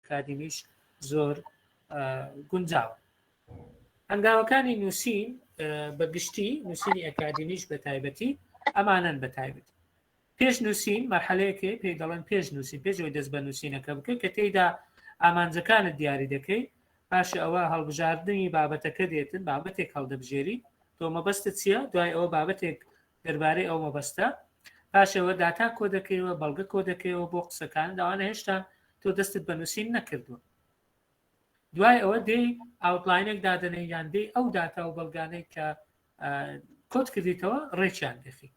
ئەکادیمیش زۆر گونجاوە هەنگاوەکانی نووسین بە گشتی نووسینی ئەکادیمیش بە تایبەتی ئەمانەن بە تایبەتی پێش نووسین مەحلەیەکەی پێی دەڵێن پێش نووسین پێشەوەی دەست بە نووسینەکە بکە کە تێیدا ئامانجەکانت دیاری دەکەی پاش ئەوە هەڵبژاردننی بابەتەکە دێتن بابەتێک هەڵدەبژێری تۆ مەبەستە چییە دوای ئەوە بابەتێک دەربارەی ئەو مەبەستە پاش ئەوە داتا کۆ دەکەیەوە بەڵگە کۆ دەکەیەوە بۆ قسەکان داوانە هێشتا تۆ دەستت بە نووسین نەکردووە دوای ئەوە دێی ئاوتلاینێک دادنەی یان دێی ئەو داتا و بەڵگانەی کە کۆت کردیتەوە ڕێکیان دەخی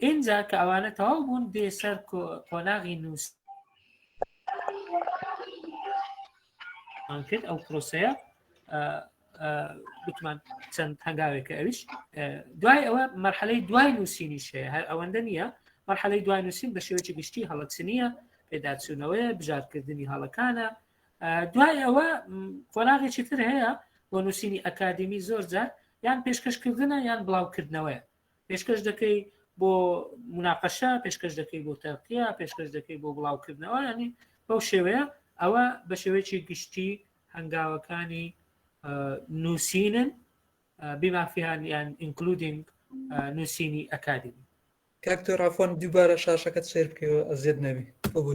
اینجا کە ئەوانە تەواو بوون دێ سەر قۆناغی نووس کرد ئەو پرۆسەیە گوتمان چەند هەنگاوێکە ئەویش دوای ئەوە مەرحەلەی دوای نووسینی شەیە هەر ئەوەندە نییە مەرحەلەی دوای نووسین بە شێوەی گشتی هەڵەچ نییە پێداچوونەوەی بژارکردنی هەڵەکانە دوای ئەوە قۆناغێکی تر هەیە بۆ نووسینی ئەکادمی زۆر جار یان پێشکەشکردنە یان بڵاوکردنەوەی پێشکەش دەکەی بۆ مناقەشە پێشکەش دەکەی بۆ تەقیە پێشکەش دەکەی بۆ بڵاوکردنەوە ینی بەو شێوەیە ئەوە بە شێوەیەکی گشتی هەنگاوەکانی نووسینن بیمافیانیان ئینکلودینگ نووسینی ئەکادمی کاکتۆ ڕافۆن دووبارە شاشەکەت سێر بکەوە ئەزیێت نەبی ببوو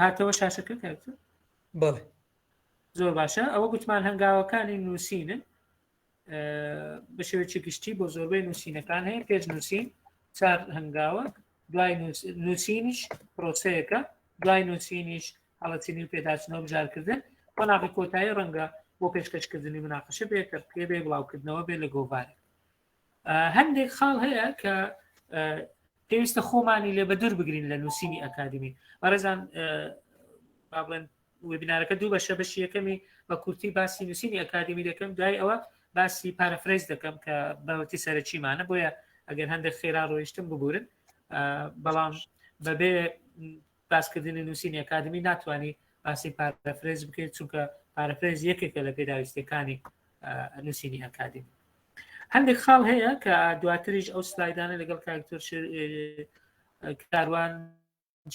هاتەوە شاشەکە کاکتر بەڵێ زۆر باشە ئەوە گوتمان هەنگاوەکانی نووسینن بە شێوێکی گشتی بۆ زۆربەی نووسینەکان هەیە پێش نووسین چار هەنگاوە دوای نووسینیش پرۆسەیەەکە دوای نووسینیش هەڵەتینی و پێداچنەوە بژارکردن قۆناغی کۆتایی ڕەنگە بۆ پێشکەشکردنی مناقەشە بێ تەرقیە بێ بڵاوکردنەوە بێ لە گۆڤارێک هەندێک خاڵ هەیە کە پێویستە خۆمانی لێ بەدور بگرین لە نووسینی ئەکادمی بەڕێزان بابڵێن وبینارەکە دوو بەشە بەشی یەکەمی بە کورتی باسی نووسینی ئەکادمی دەکەم دوای ئەوە باسی پارەفرز دەکەم کە بەوەتی سەرەکیمانە بۆیە ئەگەر هەندێک خێرا ڕۆیشتم ببورن بەڵام بەبێ باسکردنی نووسینی ئەکادمی ناتوانانی باسی پارەفرێز بکەیت چونکە پارەفرێز یەکێکە لە پێداویستەکانی نووسینی ئەکادمی هەندێک خاڵ هەیە کە دواتریش ئەو سلایدانە لەگەڵ کاکتۆر کاروان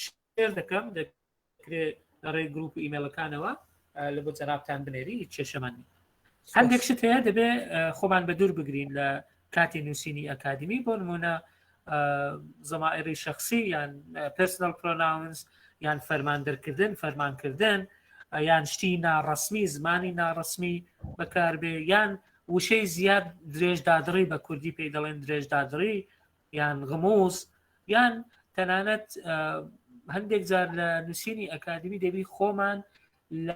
شێر دەکەم دەکرێت لە ڕێ گروپ ئیمێلەکانەوە لە بۆ جەرابتان بنێری کێشەمانی هەندێک شت هەیە دەبێ خۆمان بە دوور بگرین لە کاتی نووسینی ئەکادمی بۆ نمونە زەمائری شخصی یان پرسنل پرۆناونس یان فەرمان دەرکردن فەرمانکردن یان شتی ناڕسمی زمانی ناڕسمی بەکاربێ یان وشەی زیاد درێژدادڕی بە کوردی پێی دەڵێن درێژدادڕی یان غموز یان تەنانەت هەندێک جار لە نووسینی ئەکادمی دەبی خۆمان لە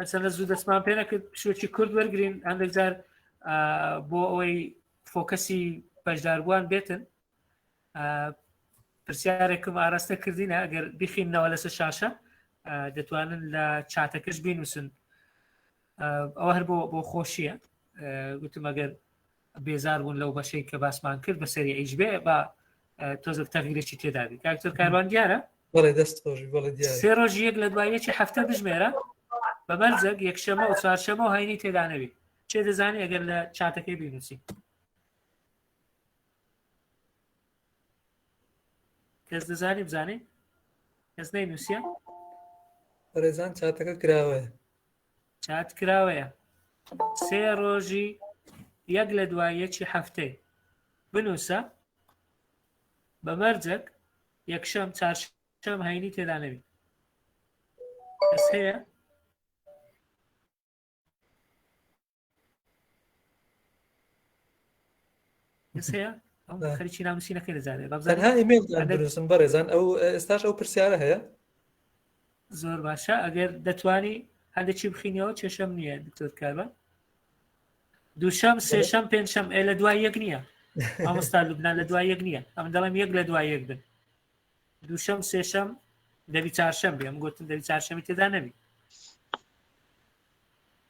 ئەسەنە زوو دەستمان پێ نەکرد شوێکی کورد وەرگین هەندێکجار بۆ ئەوەی فۆکەسی بەشداربووان بێتن پرسیارێکم ئاراستە کردینە ئەگەر بخینەوە لەسەر شاشە دەتوانن لە چاتەکەش بینوسن ئەوە هەر بۆ بۆ خۆشیە گوتم ئەگەر بێزار بوون لەو بەشەی کە باسمان کرد بە سەری ئیش بێ با تۆزەک تەغیرێکی تێدابی کاکتر کاروان دیارە بەڵێ دەست خۆشی بەڵێ دیارە سێ ڕۆژ یەک لە دوای یەکی هەفتە بژمێرە بە مەرجەک یەکشەمە و چوارشەمە و هەینی تێدانەوی چێ دەزانانی ئەگەر لە چاتەکەی بینوسی کەس دەزانی بزانین کەس نەی نووسە ڕێزان چاتەکە کراوەیە چات کراوەیە سێ ڕۆژی یەک لە دوای یەکی هەفتەی بنووسە بە مەرجەک یەکشەم چارشەم هەینی تێدا نەبی کەس هەیە خەریکی ناموسینەکەی دەزانێت بەزانها ئیمێل دروستم بەڕێزان ئەو ئێستاش ئەو پرسیارە هەیە زۆر باشە ئەگەر دەتوانی هەندێکی بخینەوە کێشەم نییە دکتۆر کاربە دووشەم سێشەم پێنجشەم ئێ لە دوای یەک نییە ئەمستا لوبنان لە دوای یەک نییە ئەم دەڵێم یەک لە دوای یەک بن دووشەم و سێشەم دەبی چارشەم بێ ئەم گوتن دەبی چارشەمی تێدا نەبی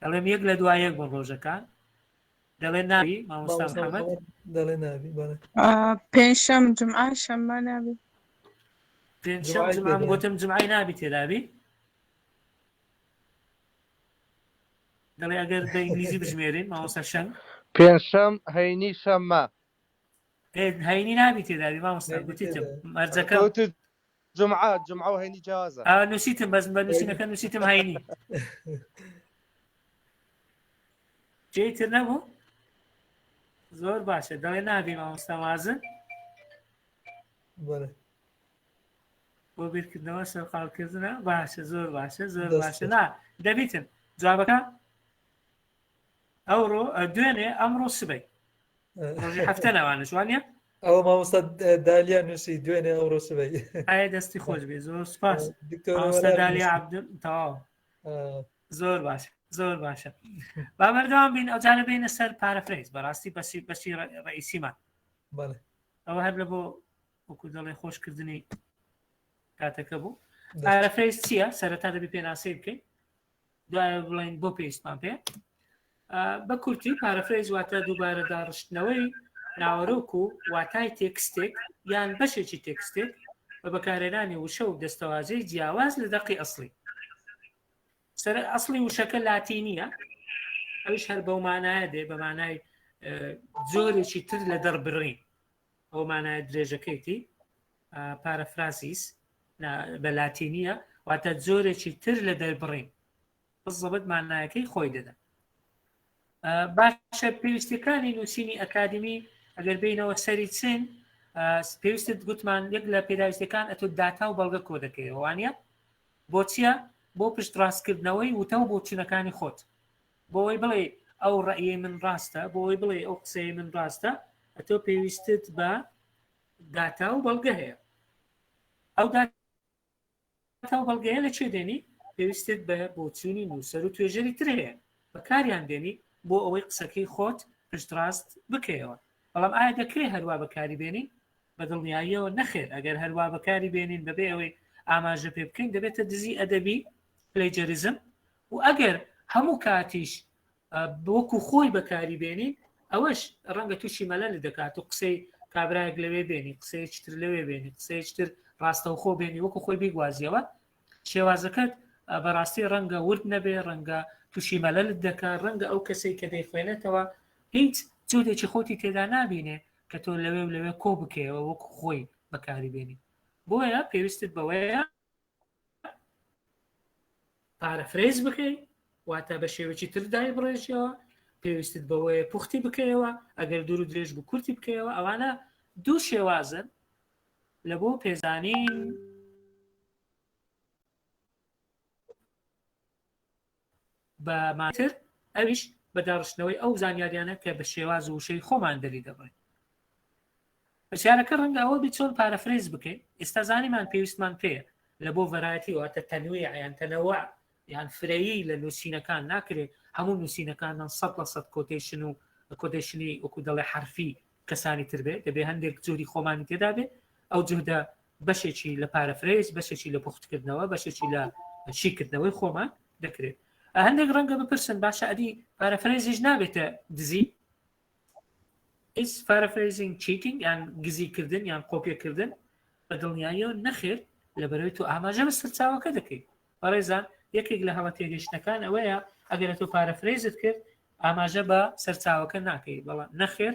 دەڵێم یەک لە دوای یەک بوون ڕۆژەکان دەڵێ ناوی مامۆستا محەممەد دەڵێ ناوی بەڵێ پێنجشەم جمعە شەممە نابی پێنجشەم جمعە گوتم جمعی نابی تێدابی دەڵێ ئەگەر بە ئینگلیزی بژمێرین مامۆستا شەم پێنجشەم هەینی شەممە هەینی نابی تێدابی مامۆستا گوتیتم مەرجەکە جمعە جمعە و هەینی جیازە نووسیتم بەس بە نووسینەکە نووسیتم هەینی جێی تر نەبوو زۆر باشە دەڵێ نابی مامۆستا وازن بەڵێ بۆ بیرکردنەوە سەرقاڵکردنە باشە زۆر باشە زۆر باشە نا دەبیتن جوابەکە ئەوڕۆ دوێنێ ئەمڕۆ سبەی ڕۆژی هەفتە ناوانش وانە ئەو مامۆستا دالیا نووسی دوێنێ ئەوڕۆ سبەی ئایا دەستی خۆش بێ زۆر سپاس دالیا عبدل تەواو زۆر باش زۆر باشە با بەردەوام بین ئەوجارە بینە سەر پارەفرەیز بەڕاستی بەسی بەسی ڕئیسیمان ئەوە هەر لە بۆ وەکو دەڵێ خۆشکردنی کاتەکە بوو پارەفرەیز چییە سەرەتا دەبی پێناسەی بکەین دوایە بڵین بۆ پێویستمان پێ بە کورتی پارەفرەیز واتە دووبارە داڕشتنەوەی ناوەرۆک و واتای تێکستێک یان بەشێکی تێکستێک بە بەکارێنانی وشە و دەستەوازەی جیاواز لە دەقی ئەسلی سەر ئەسلی وشەکە لاتی نییە ئەوش هەر بەو مانایە دێ بەمانای زۆرێکی تر لە دەربڕین ئەو مانایە درێژەکەیتی پارەفرازیس بە لاتینیە واتە جۆرێکی تر لە دەربڕین بزەبت مانایەکەی خۆی دەدا باشە پێویستەکانی نووسینی ئەکادمی ئەگەر بینەوە سەری چین پێویستت گوتمان یەک لە پێداویستەکان ئەتو داتا و بەڵگە کۆ دەکەیەوەوانە بۆچیە بۆ پشت ڕاستکردنەوەی وتە و بۆچونەکانی خۆت بۆ ئەوەی بڵێی ئەو ڕەئیەی من ڕاستە، بۆ ئەوەی بڵێی ئەو قسەی من ڕاستە، ئەتۆ پێویستت بە داتا و بەڵگە هەیە. ئەو داتا و بەڵگەیە لە کوێ دێنی؟ پێویستت بە بۆچوونی نووسەر و توێژەری تر هەیە، بەکاریان دێنی بۆ ئەوەی قسەکەی خۆت پشتڕاست بکەیەوە. بەڵام ئایا دەکرێ هەر وا بەکاری بێنین؟ بە دڵنیاییەوە نەخێر، ئەگەر هەر وا بەکاری بێنین بەبێ ئەوەی ئاماژە پێ بکەین، دەبێتە دزی ئەدەبی، Plagiarism، و ئەگەر هەموو کاتیش بۆکو خۆی بەکاری بێنین ئەوەش ڕەنگە تووشی مەلەل دەکات و قسەی کابراەک لەوێ بێنی قسەیەکتر لەوێ بێنی قسەیەکتر ڕاستەوخۆ بێنی وەکو خۆی بیگوازیەوە شێوازەکەت بەڕاستی ڕەنگە ورد نەبێ ڕەنگە تووشی مەلەلت دەکە ڕەنگە ئەو کەسەی کە دەیخوێنێتەوە هیچ جودێکی خۆتی تێدا نبینێ کە تۆ لەوێ و لەوێ کۆ بکەیەوە وەک خۆی بەکاری بێنی بۆیە پێویستت بەوەیە پارەفرەیز بکەی واتە بە شێوەی تر دای بڕێژەوە پێویستت بەوەیە پوختی بکەیەوە ئەگەر دوور و درێژ بوو کورتی بکەیەوە ئەوانە دوو شێوازن لە بۆ پێزانین بە مانای تر ئەویش بە داڕشتنەوەی ئەو زانیاریانە کە بە شێواز و وشەی خۆمان دەری دەبڕین. پرسیارەکە ڕەنگە ئەوە بیت چۆن پارەفرەیز بکەین؟ ئێستا زانیمان پێویستمان پێیە. لە بۆ ڤەرایەتی واتە تەنویع یان تەنەوع یان فرەیی لە نووسینەکان ناکرێ هەموو نووسینەکانمان سەد لە سەد کۆتەیشن و کۆتەیشنی وەکوو دەڵێ حەرفی کەسانی تر بێ دەبێ هەندێک جهدی خۆمانی تێدا بێ ئەو جهدە بەشێکی لە پارەفرەیز بەشێکی لە پوختکردنەوە بەشێکی لە شیکردنەوەی خۆمان دەکرێت هەندێک ڕەنگە بپرسن باشە ئەدی پارەفرەیزیش نابێتە دزی ئیس پارەفرەیزینگ چیتینگ یان گزیکردن یان قۆپیەکردن بە دڵنیاییەوە نەخێر لە بەرەوەی تو ئاماژە بە سەرچاوەکە دەکەیت بەڕێزان یەکێک لە هەڵە تێگەشتنەکان ئەوەیە ئەگەر تۆ پارەفرەیزت کرد ئاماژە بە سەرچاوەکە ناکەی بەڵام نەخێر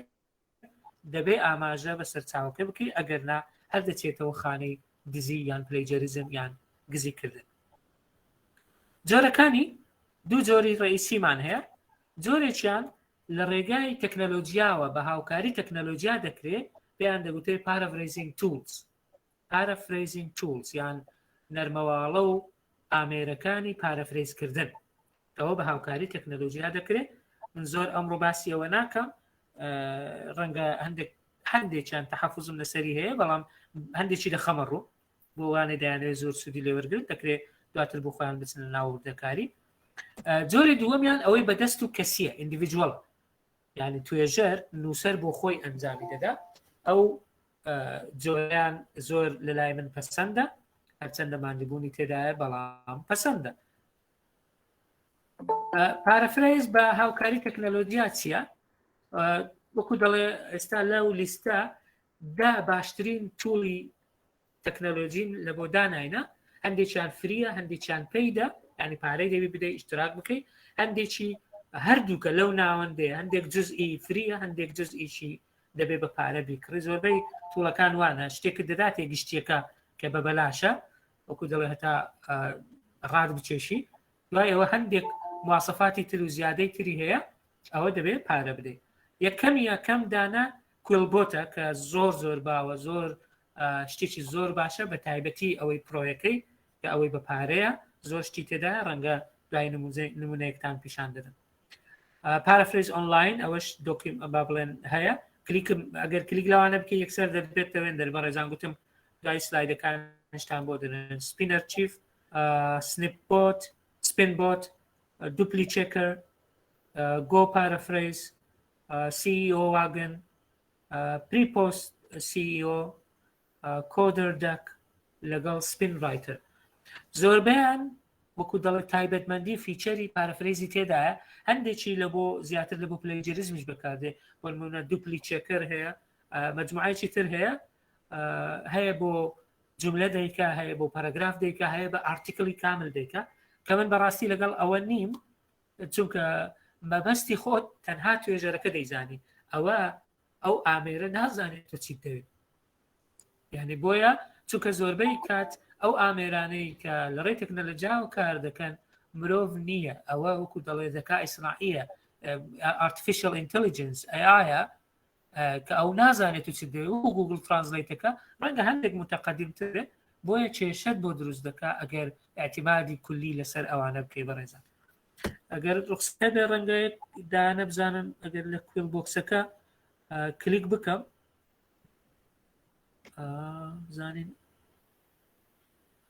دەبێ ئاماژە بە سەرچاوەکە بکەی ئەگەر نا هەر دەچێتەوە خانەی دزی یان پلەیجەریزم یان گزی کردن جۆرەکانی دوو جۆری ڕئیسیمان هەیە جۆرێکیان لە ڕێگای تەکنەلۆژیاوە بە هاوکاری تەکنەلۆژیا دەکرێت پێیان دەگوتێت پارەڤریزین تولز Paraphrasing Tools یان نەرمەواڵە و ئامێرەکانی پارەفرەیز کردن ئەوە بە هاوکاری تەکنەلۆژیا دەکرێت من زۆر ئەمڕۆ باسی ئەوە ناکەم ڕەنگە هەندێک هەندێکیان تەحەفزم لەسەری هەیە بەڵام هەندێکی لە خەمە ڕوو بۆ وانێ دەیانێت زۆر سوودی لێوەرگرت دەکرێت دواتر بۆ خۆیان بچنە ناوردەکاری جۆری دووەمیان ئەوەی بەدەست و کەسیە ئینdividuەڵ یعنی توێژەر نووسەر بۆ خۆی ئەنجامی دەدا ئەو جۆیان زۆر لە لای من پەسەندە هەرچەندە ماندبوونی تێدایە بەڵام پەسەندە پارەفرەیز بە هاوکاری تەکنەلۆجیا چییە وەکو دەڵێ ئێستا لەو لیستە دا باشترین تولی تەکنەلۆژین لە بۆ داناینە هەندێکیان فریە هەندێکیان پیدا ینی پارەی دەوی بدە ئیشتراک بکەی هەندێکی هەردووکە لەو ناوەندێ هەندێک جزئی فریە هەندێک جزئیشی دەبێ بە پارە بیکڕی زۆربەی توڵەکان وانە شتێکە دەداتێ گشتیەکە کە بە بەلاشە وەکو دەڵێ هەتا ڕاد بچێشی دوای ئەوە هەندێک مواسەفاتی تر و زیادەی تری هەیە ئەوە دەبێت پارە بدەیت یەکەم یەکەم دانا کوێلبۆتە کە زۆر زۆر باوە زۆر شتێکی زۆر باشە بە تایبەتی ئەوەی پرۆیەکەی کە ئەوەی بە پارەیە زۆر شتی تێدا ڕەنگە دوای نمونەیەکتان پیشان دەدەن پارافرێز ئۆنلاین ئەوەش دۆکیم با بڵێن هەیە کلیکم ئەگەر کلیک لەوانە بکە یەکسەر دەبێت دەوێن دەربە ڕێزان گوتم دوای سلایدەکان هشتان بۆ دەن سپینەر چیف سنیپۆت سپین بۆت دوپلی چێکەر گۆ پارەفرەیز CEO واگن پریپۆست CEO کۆدەر دەک لەگەڵ سپین ڕایتەر زۆربیان وەکو دەڵێت تایبەتمەندی و فیچەری پارەفرەیزی تێدایە هەندێکی لە بۆ زیاتر لە بۆ پلەجریزمیش بەکاردێ بۆنمونە دوپلی چێکەر هەیە مجموعایکی تر هەیە هەیە بۆ جملە دەیکا هەیە بۆ پەرەگراف دەیکا هەیە بە ئارتیکلی کامل دەیکا کە من بەڕاستی لەگەڵ ئەوە نیم چونکە مەبەستی خۆت تەنها توێژەرەکە دەیزانی ئەوە ئەو ئامێرە نازانێت تۆ چیت دەوێت یعنی بۆیە چونکە زۆربەی کات ئەو ئامێرانەی کە لە ڕێ تەکنەلەجا و کار دەکەن مرۆڤ نییە ئەوە وەکو دەڵێ دەکا ئیسرائە ئارتفیشل ئینتەلیجنس ئەیە کە ئەو نازانێت و چ دەوێت و گوگل ترانسلیتەکە ڕەنگە هەندێک متەقەدیمترێت بۆیە کێشەت بۆ دروست دەکا ئەگەر اعتیمادی کولی لەسەر ئەوانە بکەی بەڕێزان ئەگەر ڕخستە بێ ڕەنگەیەک دانە بزانم ئەگەر لە کوێل بۆکسەکە کلیک بکەم زانین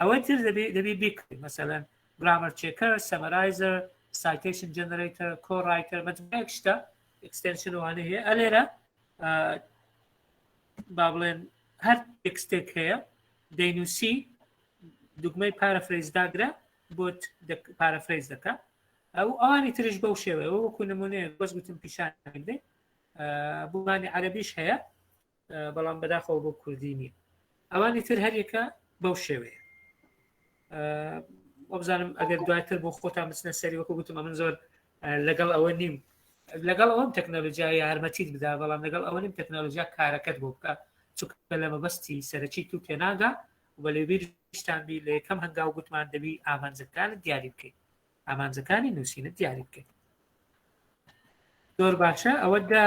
ئەوەی تر دەبێ دەبێ بیکڕی مەسەلەن گرامەر چێکەر سەمەرایزەر سایتەیشن جەنەرەیتەر کۆڕایتەر مەجموعەیەک شتە ئەکستێنشن وانە هەیە ئەلێرە با بڵێن هەر تێکستێک هەیە دەینوسی دوگمەی پارەفرەیز داگرە بۆت پارەفرەیز دەکە ئەو ئەوانی ترش بەو شێوەیە وەکو نمونەیە بەس گوتم پیشان بدەیت بوومانی عەربیش هەیە بەڵام بەداخەوە بۆ کوردی نییە ئەوانی تر هەرێکە بەو شێوەیە وەبزانم ئەگەر دواتر بۆ خۆتان بچنە سەری وەکو گوتم من زۆر لەگەڵ ئەوە نیم لەگەڵ ئەوم تەکنەلۆژیا یارمەتیت بدا بەڵام لەگەڵ ئەوە نیم تەکنەلۆژیا کارەکەت بۆ بکە چکە لە مەبەستی سەرەکی تو تێناگا و لەبیرستان بی لە یەکەم هەنگاو گوتمان دەبی ئامانجەکان دیاری بکەیت ئامانجەکانی نووسینت دیاری بکەیت زۆر باشە ئەوە دا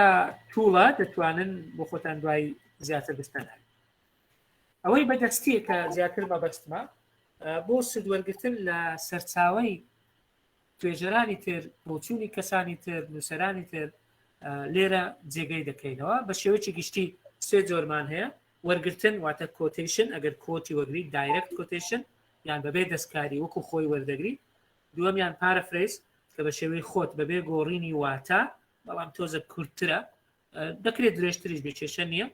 توڵە دەتوانن بۆ خۆتان دوای زیاتر بستەن ئەوەی بەدەستیە کە زیاتر مەبەستمە بۆ سدوەرگتن لە سەرچاوی توێژەرانی تر بۆچوونی کەسانی تر نووسرانی تر لێرە جێگەی دەکەینەوە بە شێوەی گشتی سێ جۆرمان هەیە وەرگتن واتە کۆتیشن ئەگەر کۆتی وەگری دایرکت کۆتیشن یان بەبێ دەستکاری وەکو خۆی وەردەگری، دووەمیان پارەفرەیز کە بە شێوەی خۆت بەبێ گۆڕینی واتا بەڵام تۆزێک کورتترە، دەکرێت درێژتریش بێت کێشە نییە،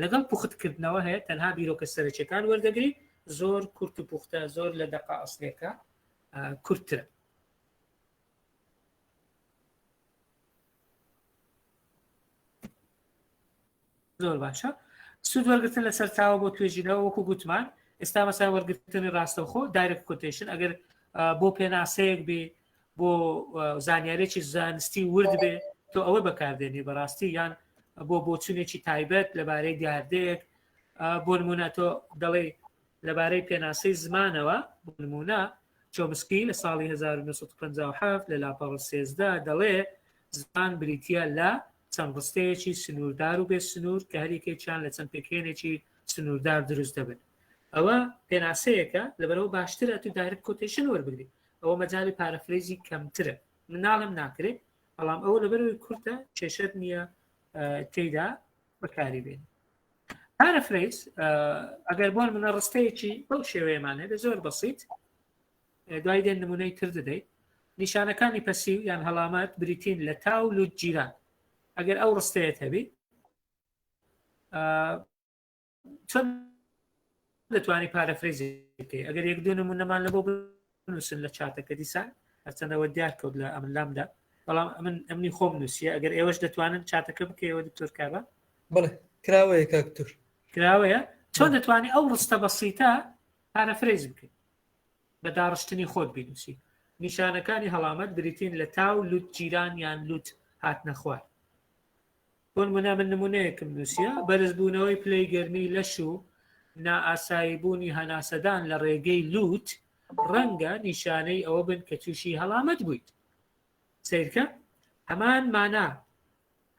لەگەڵ پوختکردنەوە هەیە تەنها بیرۆکە سەرەکیەکان وەردەگری، زۆر کورت و پوختە زۆر لە دەقە ئەسلێکە کورتترە. زۆر باشە سود وەرگتن لە سەرچاوە بۆ توێژینەوە وەکو گوتمان ئێستا مەسای وەرگتنی ڕاستەوخۆ دایرەک کوتیشن ئەگەر بۆ پێناسەیەک بێ بۆ زانیارێکی زانستی ورد بێ تۆ ئەوە بەکاردێنی بەڕاستی یان بۆ بۆچونێکی تایبەت لەبارەی دیاردەیەک بۆ نمونە تۆ دەڵێ لەبارەی پێناسەی زمانەوە بۆ نمونە چۆمسکی لە ساڵی 1950 لە لاپەڕ سێزدا دەڵێ زمان بریتە لە چەند ڕستەیەکی سنووردار و بێ سنوور کە هەریەکێکیان لە چەند پێکهێنێکی سنووردار دروست دەبن ئەوە پێناسەیەکە لەبەرەوە باشترە تو دایرکت کۆتیشن وەربگری ئەوە مەجای پارەفرێزی کەمترە مناڵم ناکرێت بەڵام ئەوە لەبەرەوەی کورتە کێشەر نییە تێدا بەکاری بێن پارەفرێز ئەگەر بۆن منە ڕستەیەکی بەو شێوەیەمان هەبێ زۆر بەسییت دوای دێن نمونەی تر دەدەیت. نیشانەکانی پەسیو یان هەڵامەت بریتین لە تا و لوت گیران ئەگەر ئەو ڕستەیەت هەبی چۆن دەتوانانی پارەفرەیزی بکەی ئەگەر یەک دوو نمونەمان لە بۆ بنووسن لە چاتەکە دیسان هەرچەندەوە دیار کەوت لە ئەمن لامدا بەڵام ئەمن ئەمنی خۆم نووسە ئەگەر ئێوەش دەتوانن چاتەکە بکەیەوە دکتۆر کابە بڵێ کراوەیە کاکتور کراوەیە چۆن دەتوانانی ئەو ڕستە بەسیتە پارەفرەیز بکەیت بە داڕشتنی خۆت بینووسی. نیشانەکانی هەڵامەت بریتین لە تاو، لوت جیران یان لوت هاتنە خوار. بۆ نموونە من نموونەیەکم نووسیە، بەرزبوونەوەی پلەی گەرمی لەش و نائاساییبوونی هەناسەدان لە ڕێگەی لوت ڕەنگە نیشانەی ئەوە بن کە تووشی هەڵامەت بوویت. سەیرکە هەمان مانا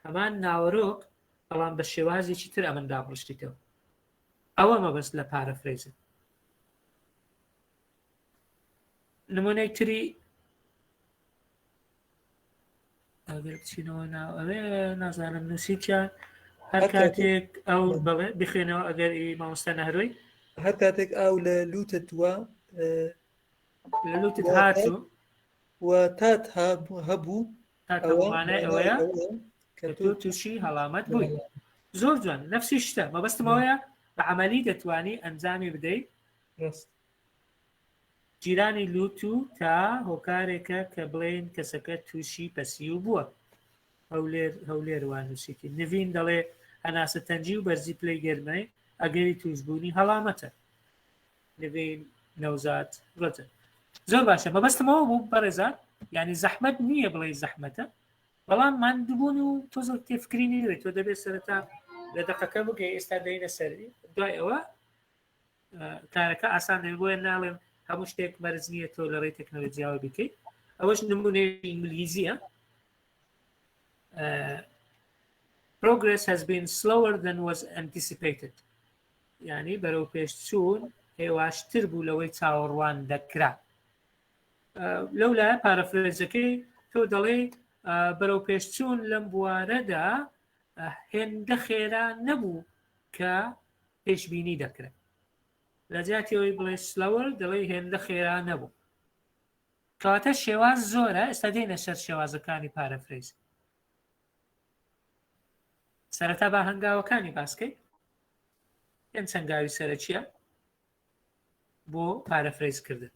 هەمان ناوەرۆک بەڵام بە شێوازێکی تر ئەمن دابڕشتیتەوە. ئەوە مەبەست لە پارەفرەیزن. نمونەی تری ئەگەر بچینەوە ناو ئەوێ نازانم نووسیتیان هەر کاتێک ئەو بڵێ بخوێنەوە ئەگەر ئی مامۆستا نەهرۆی هەر کاتێک ئاو لە لوتە دووە لە لوتت هاتوو و تات هەبوو تاکەمانای ئەوەیە کە تۆ تووشی هەڵامەت بووی زۆر جوان نفسی شتە مەبەستمەوەیە بە عملی دەتوانی ئەنجامی بدەیت جیرانی لوت و تا هۆکارێکە کە بڵێن کەسەکە تووشی پەسیو بووە هەولێر هەولێر وانوسیتی نڤین دەڵێ هەناسە تەنجی و بەرزی پلەی گەرمەی ئەگەری توشببوونی هەڵامەتە نڤین نەوزاد ڕەجەب زۆر باشە مەبەستم ئەوە بوو بەڕێزان یعنی زەحمەت نییە بڵێ زەحمەتە بەڵام ماندووبوون و تۆزە تێفکرینی دەبێت تۆ دەبێت سەرەتا لە دەقەکە بگەی ئێستا دەینە سەری دوای ئەوە کارەکە ئاسان دەبێت بۆیە ناڵێم هەموو شتێک مەرز نییە تۆ لە ڕێی تەکنەلۆجییاوە بکەیت ئەوەش نمونەی ئینگلیزیە progress has been slower than was anticipated یانی بەرەوپێشچوون هێواشتر بوو لەوەی چاوەڕوان دەکرا لەو لایە پارەفرێزەکەی تۆ دەڵێ بەرەو پێشچوون لەم بوارەدا هێندە خێرا نەبوو کە پێشببینی دەکرێت لە جاتیەوەی بڵێ سلەوە دەڵێ هێندە خێرا نەبوو کەواتە شێواز زۆرە ئێستا دێنە سەر شێوازەکانی پارەفرێز سەرەتا بە هەنگاوەکانی باسکەیت پێنج هەنگاوی سەرەکیە بۆ پارەفرەیز کردن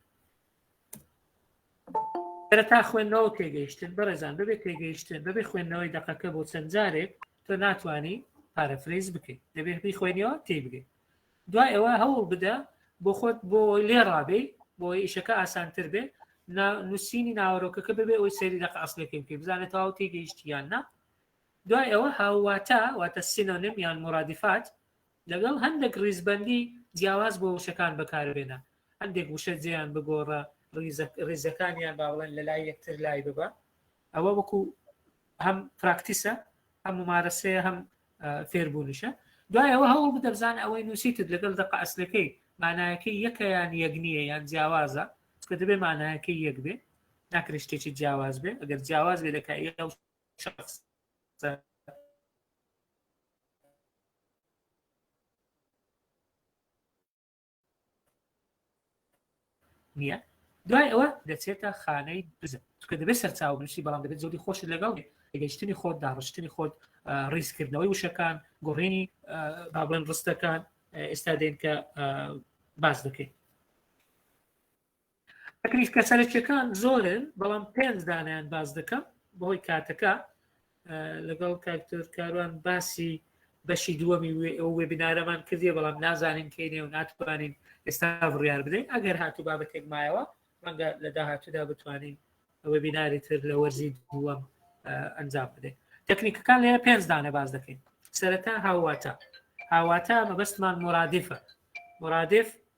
تا خوێندنەوە تێگەیشتن بەڕێزان بەبێت تێگەیشتن بەبێ خوێندنەوەی دقەکە بۆ چەند جارێک تۆ ناتانی پارەفرەیز بکەیت دەبێت بی خوێنەوە تێ بگەیت دوای ئەوە هەوڵ بدە بۆ خۆت بۆ لێ ڕابێ بۆ ئیشەکە ئاسانتر بێ نووسینی ناوەرۆکەکە ببێ ئەوی سەری دەق ئەسلەکەی بکە بزانێت تاو تێگەیشتیان نا دوای ئەوە هاوواتا واتە سینۆنیم یان مورادیفات لەگەڵ هەندێک ڕیزبەندی جیاواز بۆ وشەکان بەکاربێنە، هەندێک وشە جێیان بگۆڕە، ڕیزەکانیان با بڵێن لە لای یەکتر لای ببە، ئەوە وەکو هەم پراکتیسە، هەم مومارەسەیە، هەم فێربوونیشە، دوای ئەوە هەوڵ بدە بزانە ئەوەی نووسیتت لەگەڵ دەقە ئەسلەکەی مانایەکەی یەکە یان یەک نییە یان جیاوازە، چونکە دەبێ مانایەکەی یەک بێ، ناکرێ شتێکی جیاواز بێ، ئەگەر جیاواز بێ لە کایەی ئەو نییە دوای ئەوە دەچێتە خانەی بزن چکە دەبێت سەرچاو بنووسی بەڵام دەبێت زۆری خۆش لەگەڵ گەشتنی خۆت داڕشتنی خۆت ڕیزکردنەوەی وشەکان گۆڕێنی بابڵێن ڕستەکان ئێستا دێن کە باز دەکەین تەکلیفە سەرەکیەکان زۆرن بەڵام پێنج دانیان باس دەکەم بەهۆی کاتەکە لەگەڵ کاکتۆر کاروان باسی بەشی دووەمی ئەو وێبینارەمان کردیە بەڵام نازانین کەینێ و ناتوانین ئێستا بڕیار بدەین ئەگەر هاتو بابەتێک مایەوە ڕەنگە لە داهاتوودا بتوانین وێبیناری تر لە وەرزی دووەم ئەنجام بدەین تەکنیکەکان لێرە پێنج دانە باز دەکەین سەرەتا هاواتە هاواتە مەبەستمان مرادفە مرادف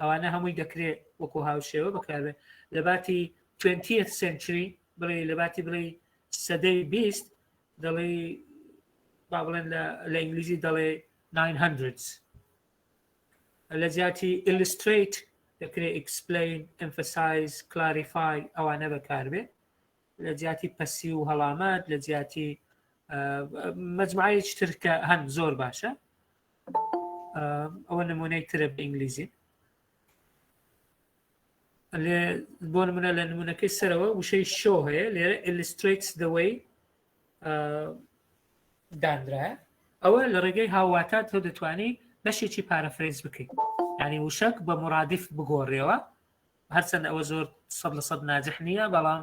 ئەوانە هەمووی دەکرێ وەکو هاوشێوە بەکاربێن لەباتی توێنتیەت سنچری بڵێ لەباتی بڵێ سەدەی بیست دەڵێ با بڵێن لە ئینگلیزی دەڵێ 900 لە جیاتی ئیلیستریت دەکرێت ئیکسپلین ئەمفسایز کلاریفای ئەوانە بەکاربێ لە جیاتی پەسی و هەڵامەت لە جیاتی مجموعەیەکی ترکە هەن زۆر باشە ئەوە نمونەی ترە بە ئینگلیزی بۆ نمونە لە نمونونەکەی سەرەوە وشەی شۆ هەیە لێرە ئلیستریتس دەوەی دانرایە ئەوە لە ڕێگەی هاواتا تۆ دەتوانی بەشێکی پارەفرێز بکەیت ینی وشک بە مرادیف بگۆڕێەوە هەرچەند ئەوە زۆر سە لە سەد ناجح نییە بەڵام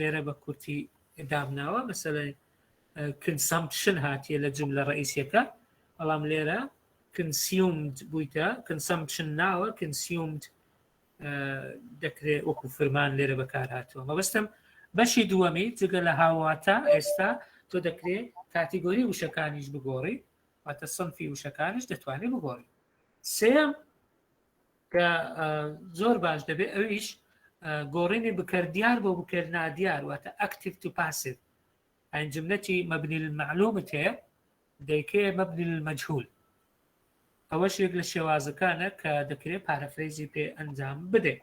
لێرە بە کورتی دامناوە مەسەلەی کنسەمپشن هاتیە لە جملە ڕئیسیەکە بەڵام لێرە کنسیومد بوویتە کنسەمپشن ناوە کنسیومد دەکرێت وەکو فرمان لێرە بەکار هاتووە مەبستم بەشی دووەمی جگە لە هاواتە ئێستا تۆ دەکرێت کاتیگۆری وشەکانیش بگۆڕی واتە سنفی وشەکانش دەتوانێت بگۆڕی سێم کە زۆر باش دەبێت ئەویش گۆڕینی بکەر دیار بۆ بکەر نادیار واتە ئەکتیف تو پاسیف ئەین جملەتی مەبنی معلومت هەیە دەیکێ مەبنی مەجهول ئەوەش یەک لە شێوازەکانە کە دەکرێت پارەفرەیزی پێ ئەنجام بدەیت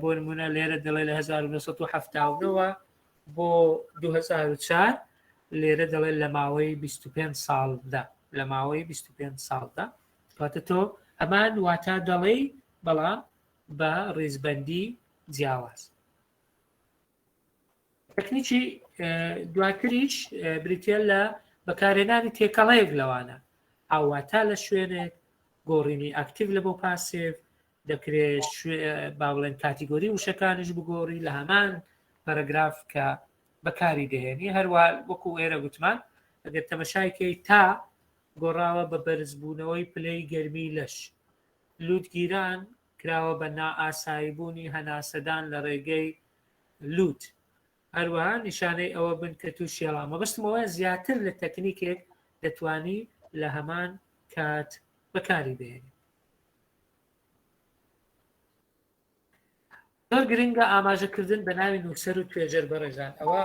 بۆ نمونە لێرە دەڵێ لە 1970 وە بۆ 2004 لێرە دەڵێ لە ماوەی 25 ساڵدا لە ماوەی 25 ساڵدا کاتە تۆ ئەمان واتا دەڵێی بەڵام بە ڕیزبندی جیاواز تەکنیکی دواتریش بریتە لە بەکارێنانی تێکەڵەیەک لەوانە ئاواتا لە شوێنێک گۆڕینی ئاکتیو لە بۆ پاسێف دەکرێت با بڵێن کاتیگۆری وشەکانیش بگۆڕی لە هەمان پەرەگراف کە بەکاری دەهێنی هەروە وەکو ئێرە گوتمان ئەگەر تەمەشایکەی تا گۆڕاوە بە بەرزبوونەوەی پلەی گەرمی لەش لووتگیران کراوە بە نائاساییبوونی هەناسەدان لە ڕێگەی لووت هەروەها نیشانەی ئەوە بن کە تو شێڵا مەبستمەوە زیاتر لە تەکنیکێک دەتانی لە هەمان کات بەکاری بێنی زۆر گرنگە ئاماژەکردن بە ناوی نووسەر و توێژەر بەڕێزان ئەوە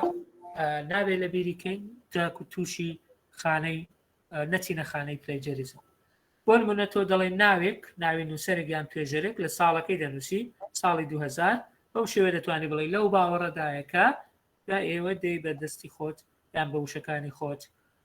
ناوێ لە بیریکەین جاک و تووشی خانەی نەچینە خانەی پلەجەریزم بۆن منە تۆ دەڵێن ناوێک ناوی نووسەرێک یان توێژەرێک لە ساڵەکەی دەنووسی ساڵی 2000 بەو شێوێ دەتوانانی بڵێ لەو باوەڕەدایەکە دا ئێوە دەی بەدەستی خۆت یان بە وشەکانی خۆت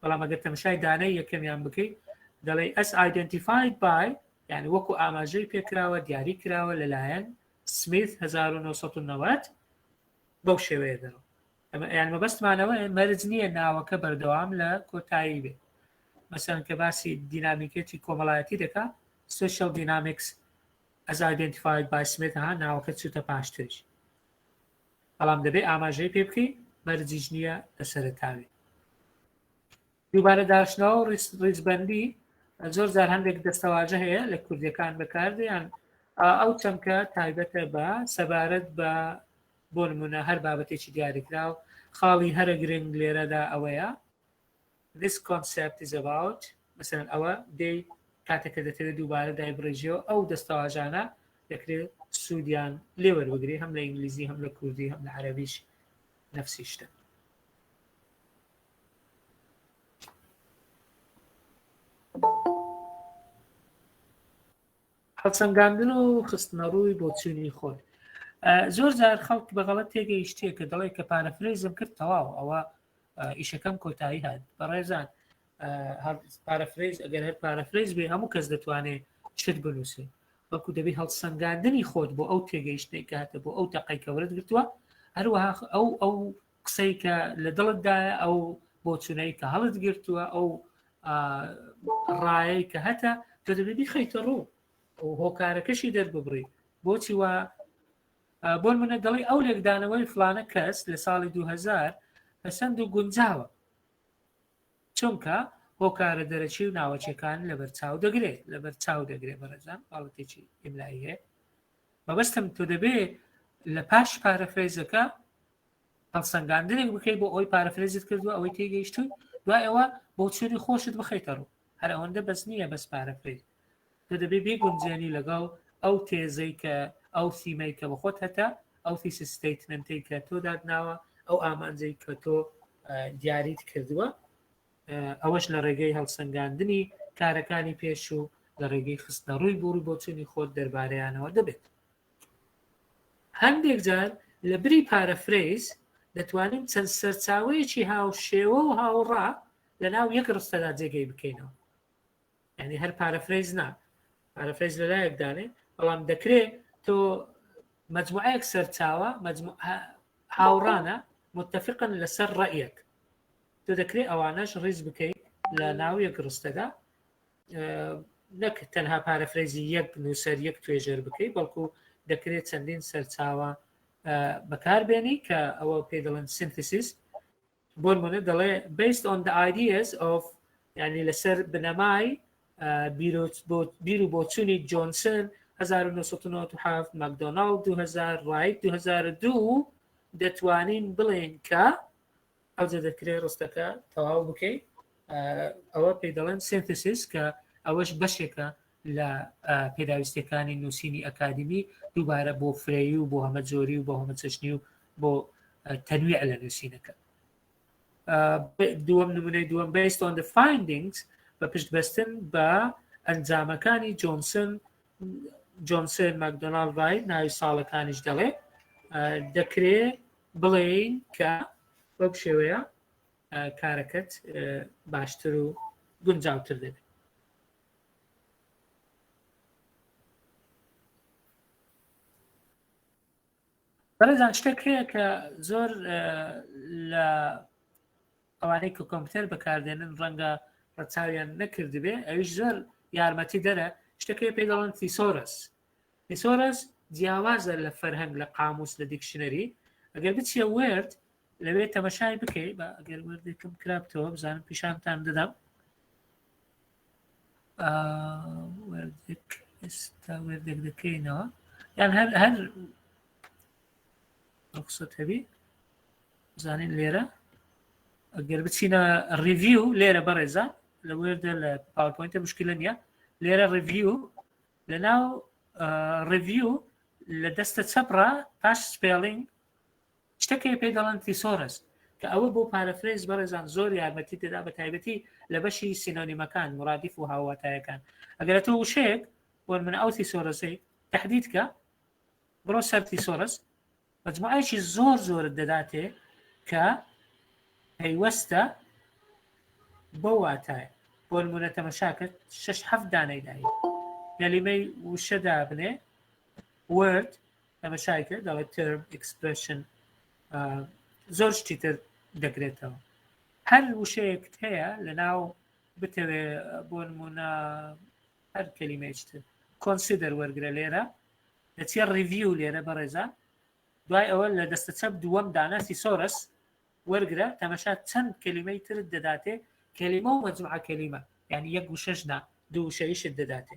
بەڵام ئەگەر تەمەشای دانەی یەکەمیان بکەیت دەڵێ ئەس ئایدنتیفاید بای یعنی وەکو ئاماژەی پێکراوە دیاری کراوە لەلایەن سمیت 1990 بەو شێوەیە دەڕۆ ئەمە یان مەبەستمانەوە مەرج نییە ناوەکە بەردەوام لە کۆتایی بێت مەسەن کە باسی دینامیکێتی کۆمەڵایەتی دەکات سوشل دینامیکس ئەز ئایدنتیفاید بای سمێت ها ناوەکە چوتە پاشترش بەڵام دەبێ ئاماژەی پێ بکەین مەرجیش نییە لە سەرەتاوی دووبارە داشتنەوە و ڕیزبەندی زۆر جار هەندێک دەستەواژە هەیە لە کوردەکان بەکاردیان ئەو چەمکە تایبەتە بە سەبارەت بە بۆ نمونە هەر بابەتێکی دیاریکراو خاڵی هەرە گرنگ لێرەدا ئەوەیە This concept is about مەسەلەن ئەوە دێی کاتێک کە دەتەوێت دووبارە دایبڕێژیەوە ئەو دەستەواژانە دەکرێت سوودیان لێوەربگری هەم لە ئینگلیزی هەم لە کوردی هەم لە عەربیش نفسی شتە هەڵسەنگاندن و خستنە ڕووی بۆچوونی خۆت زۆر جار خەڵک بەغڵەت تێگەیشتێ کە دەڵێ کە پارەفرەیزم کرد تەواو ئەوە ئیشەکەم کۆتایی هات بەڕێزان پارەفرەیز ئەگەر هەر پارەفرەیز بێ هەموو کەس دەتوانێت شت بنووسێ بەڵکو دەبی هەڵسەنگاندنی خۆت بۆ ئەو تێگەیشتەی کاتە بۆ ئەو تەقەی کەورت گرتووە هەروەها ئەو ئەو قسەی کە لە دڵتدایە ئەو بۆچونەی کە هەڵت گرتووە ئەو ڕایەی کە هەتا تۆ دەبێ بیخیتە ڕوو هۆکارەکەشی دەرببڕی بۆچی وە بۆنمونە دەڵی ئەو لێکدانەوەی فلانە کەس لە ساڵی دوو هەزار پەسەند و گونجاوە چونکە هۆکارە دەرەکی و ناوەچەکان لەبەر چاو دەگرێت لەبەر چاو دەگرێت بەڕێزان باڵەتێکی ئیملایی هەیە مەبەستم تۆ دەبێت لە پاش پارەفرێزەکە هەڵسەنگاندنێک بکەیت بۆ ئەوی پارەفرێزت کردووە ئەوەی تێگەیشتوی دوای ئەوە بۆچوونی خۆشت بخەیتە ڕوو هەر ئەوەندە بەس نییە بەس پارە بکەیت تۆ دەبێ بێ گونجێنی لەگەڵ ئەو تێزەی کە ئەو سیمەی کە بەخۆت هەتا ئەو تیسی ستیتمنتی کە تۆ دادناوە ئەو ئامانجەی کە تۆ دیاریت کردووە ئەوەش لە ڕێگەی هەڵسەنگاندنی کارەکانی پێش و لە ڕێگەی خستنە ڕووی بوڕی بۆچوونی خۆت دەربارەیانەوە دەبێت هەندێک جار لە بری پارەفرەیز دەتوانین چەند سەرچاوەیەکی هاوشێوە و هاوڕا لە ناو یەک ڕستەدا جێگەی بکەینەوە یعنی هەر پارەفرەیز نا پارەفرەیز لە لایەک دانێ بەڵام دەکرێ تۆ مجموعەیەک سەرچاوە هاوڕانە متفقن لەسەر ڕەیەک تۆ دەکرێت ئەوانەش ڕیز بکەیت لە ناو یەک ڕستەدا نەک تەنها پارەفرەیزی یەک نووسەر یەک توێژەر بکەیت بەڵکو دەکرێت چەندین سەرچاوە بەکاربێنی کە ئەوە پێ دەڵێن سنتسیس بۆ نموونە دەڵێ based on the ideas of یعنی لەسەر بنەمای بیر و بۆچوونی جۆنسن 1997 مەکدۆناڵ 2000 ڕایت 2002 دەتوانین بڵێن کە ئەوجە دەکرێت ڕستەکە تەواو بکەیت ئەوە پێی دەڵێن سنتسیس کە ئەوەش بەشێکە لە پێداویستەکانی نووسینی ئەکادمی دووبارە بۆ فرەیی و بۆ هەمە جۆری و بۆ هەمە چەشنی و بۆ تەنویع لە نووسینەکە دووەم نمونەی دووەم based on the findings بە پشت بەستن بە ئەنجامەکانی جۆنسن جۆنسن مەکدۆناال ڕای ناوی ساڵەکانیش دەڵێ دەکرێ بڵێین کە بەو شێوەیە کارەکەت باشتر و گونجاوتر دەبێت بەڕێزان شتێک هەیە کە زۆر لە ئەوانەی کە کۆمپیوتەر بەکاردێنن ڕەنگە ڕەچاویان نەکردبێ ئەویش زۆر یارمەتی دەرە شتەکەی پێ دەڵن تیسۆرس تیسۆرس جیاوازە لە فەرهەنگ لە قاموس لە دیکشنەری ئەگەر بچیە وێرد لەوێ تەمەشای بکەی بە ئەگەر وردێکم کرابتەوە بزانم پیشانتان دەدەم وردێک ئێستا وردێک دەکەینەوە یان هەر هەر ڕخصت هەبی زانین لێرە ئەگەر بچینە ڕیڤیو لێرە بەڕێزە لە وردە لە پاورپۆینتە مشکلە نیە لێرە ڕیڤیو لە ناو ڕیڤیو لە دەستە چەپڕە پاش سپێڵینگ شتە کە پێی دەڵێن تیسۆرس کە ئەوە بۆ پارەفرێز بەڕێزان زۆر یارمەتیت دەدا بە تایبەتی لە بەشی سینۆنیمەکان مرادیف و هاوواتایەکان ئەگەر تۆ وشەیەک بۆن من ئەو تیسۆرسەی تهدید کە بڕۆ سەر تیسۆرس مجموعەیەکی زۆر زۆرت دەداتێ کە پەیوەستە بۆ واتایە بۆ نمونە تەمەشا کرد شش هەفت دانەی داهی لە لیمەی وشە دابنێ ورد تەمەشای کرد دەڵێت ترم ئکسپرشن زۆر شتی تر دەگرێتەوە هەر وشەیەکت هەیە لە ناو بتەوێ بۆ نمونە هەر کەلیمێشت کۆنسیدەر وەرگرە لێرە دەچێ ڕیڤیو لێرە بەڕێزان دوای ئەوە لە دەستە چەپ دووەم داناسی سۆرس وەرگرە تەمەشا چەند کەلیمەی ترت دەداتێ کەلیمە و مەجموعە کەلیمە یعنی یەک وشەشنا دوو وشەیشت دەداتێ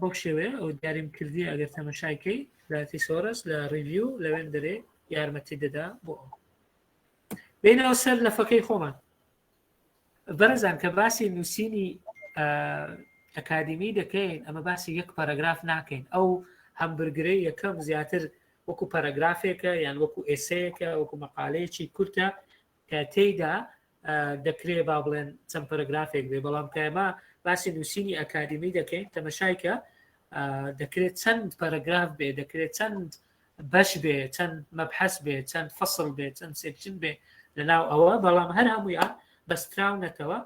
بەو شێوەیە ئەو دیاریم کردی ئەگەر تەمەشایکەی لاتی سۆرس لە ڕیڤیو لەوێن دەرێ یارمەتی دەدا بۆ ئەو بینەوە سەر لە فەکەی خۆمان بەرەزان کە باسی نووسینی ئەکادمی دەکەین ئەمە باسی یەک پەرەگراف ناکەین ئەو هەمبرگرەی یەکەم زیاتر وەکو پەرەگرافێکە یان وەکو ئێسەیەکە وەکو مەقالەیەکی کورتە کە تێیدا دەکرێ با بڵێن چەند پەرەگرافێک بێ بەڵام کە ئێمە باسی نووسینی ئەکادیمی دەکەین تەمەشایکە دەکرێت چەند پەرەگراف بێ دەکرێت چەند بەش بێ چەند مەبحەس بێ چەند فەسڵ بێ چەند سێکشن بێ لەناو ئەوە بەڵام هەر هەمویان بەستراونەتەوە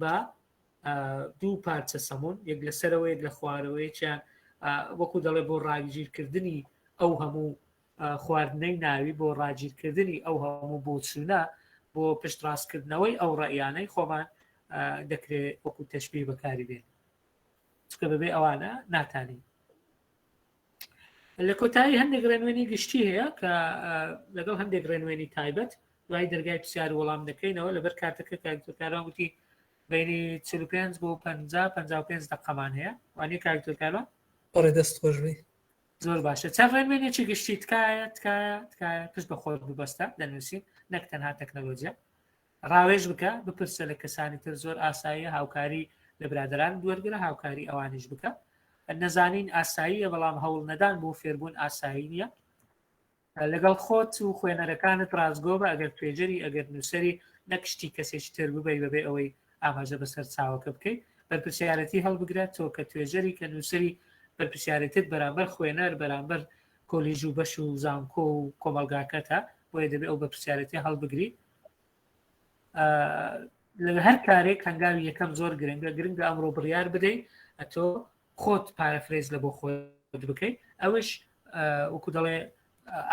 بە دوو پارچە سەمون یەک لەسەرەوەیەک لە خوارەوەیەکیان وەکو دەڵێ بۆ ڕاویژیرکردنی ئەو هەموو خواردنەی ناوی بۆ ڕاگیرکردنی ئەو هەموو بۆچوونە بۆ پشتڕاستکردنەوەی ئەو ڕێیانەی خۆمان دەکرێت وەکو تەشببی بەکاری بێن چکە بەبێ ئەوانە ناتانی لە کۆتایی هەندێک ڕێنوێنی گشتی هەیە کە لەگەڵ هەندێک ڕێنوێنی تایبەت دوای دەرگای پرسیار وەڵام دەکەینەوە لەبەر کاتەکە کارکاران وتی بینی 45 بۆ 50 55 دقەمان هەیە وانێ کارکتۆرکاران بەڕێ دەست خۆشبی زۆر باشە چەند ڕێنوێنێکی گشتی تکایە تکایە تکایە پشت بە خۆت ببەستە دەنووسین نەک تەنها تەکنەلۆجیە ڕاوێژ بکە بپرسە لە کەسانی تر زۆر ئاساییە هاوکاری لە برادران دوەرگرە هاوکاری ئەوانیش بکە نەزانین ئاساییە بەڵام هەوڵ نەدان بۆ فێربوون ئاسایی نییە لەگەڵ خۆت و خوێنەرەکانت ڕاستگۆبە ئەگەر توێژەری ئەگەر نووسری نەکشتی کەسێکی تر ببی بەبێ ئەوەی ئاماژە بەسەر چاوەکە بکەیت بەرپسیارەتی هەڵبگرێت تۆ کە توێژەری کە نووسری بەرپسیارەتت بەرامبەر خوێنەر بەرامبەر کۆلیژ و بەش و زانکۆ و کۆمەلگاکەتە بۆیە دەبێت ئەو بەرپسیارەتی هەڵبگری لە هەر کارێک هەنگاوی یەکەم زۆر گرنگە گرنگە ئەمڕۆ بڕیار بدەیت ئەتۆ خۆت پارەفرێز لە بۆ خۆت بکەیت ئەوش وەکو دەڵێ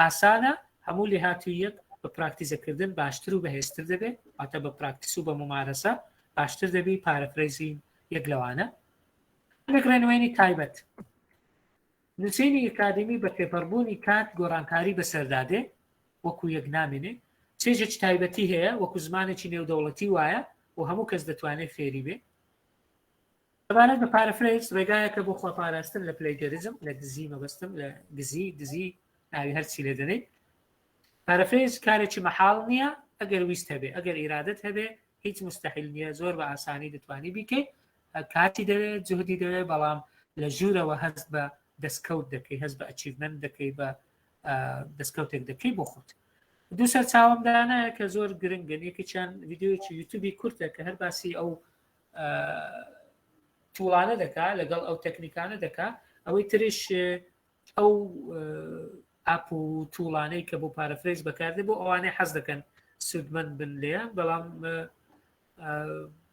ئاسانە هەموو لێ هاتوویەک بە پراکتیزەکردن باشتر و بەهێزتر دەبێت ئاتە بە پراکتیس و بە ممارەسە باشتر دەبی پارەفرێزی یەک لەوانە نەگرێنوێنی تایبەت نووسینی ئکادمی بە پێپەربوونی کات گۆڕانکاری بەسەردادێ وەکو یەک نامێنێ چێژێک تایبەتی هەیە وەکو زمانێکی نێودەوڵەتی وایە و هەموو کەس دەتوانێت فێری بێ سەبارەت بە پارەفرەیس ڕێگایەکە بۆ خۆپاراستن لە پلەیگەریزم لە دزی مەبەستم لە گزی دزی ئاوی هەرچی لێ دەنێیت پارەفرەیس کارێکی مەحاڵ نییە ئەگەر ویست هەبێ ئەگەر ئیرادت هەبێ هیچ مستحیل نییە زۆر بە ئاسانی دەتوانی بیکەیت کاتی دەوێت جهدی دەوێت بەڵام لە ژوورەوە هەست بە دەستکەوت دەکەی هەست بە ئەچیڤمن دەکەی بە دەستکەوتێک دەکەی بۆ خۆت دوو سەر چاوەمدانە کە زۆر گرنگن یەکیان یددیوەکی یوتوبی کورتە کە هەر باسی ئەو توڵانە دەکا لەگەڵ ئەو تەکنیکانە دەکا ئەوەی ترش ئەو ئاپ و توڵانەی کە بۆ پارەفرێز بەکاردێ بۆ ئەوانەی حەز دەکەن سوودمەند بن لێ بەڵام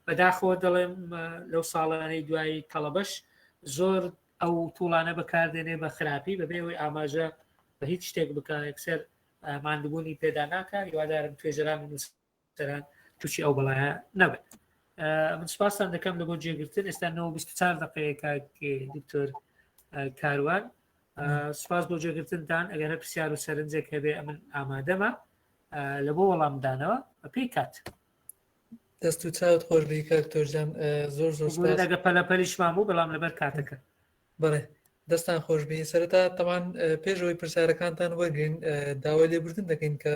بەداخەوە دەڵێم لەو ساڵانەی دوایی تەڵەبەش زۆر ئەو توڵانە بەکاردێنێ بە خراپی بەبێ ئەوەی ئاماژە بە هیچ شتێک بکە یەکسەر مادبوونی پێدا ناکە هیوادارم توێژران نووس تەران تووشی ئەو بەڵایە نەبن من سپاسان دەکەم لە بۆ جێگرتن ئێستا 94 دقەیەکە دکتۆر کاروان سپاس بۆ جێگرتنتان ئەگەر هە پرسیار و سەرنجێک هەبێ ئەمن ئامادەمە لە بۆ وەڵامدانەوە بە پێی کات دەست و چاوت خۆش بیکە تۆژەم زۆر زۆر لەگە پەلەپەلیشمان بوو بەڵام لەبەر کاتەکە بڵێ دەستان خۆش بین سەرتا تەوان پێشەوەی پرسیارەکانتان وەرگین داوای لێبردن دەکەین کە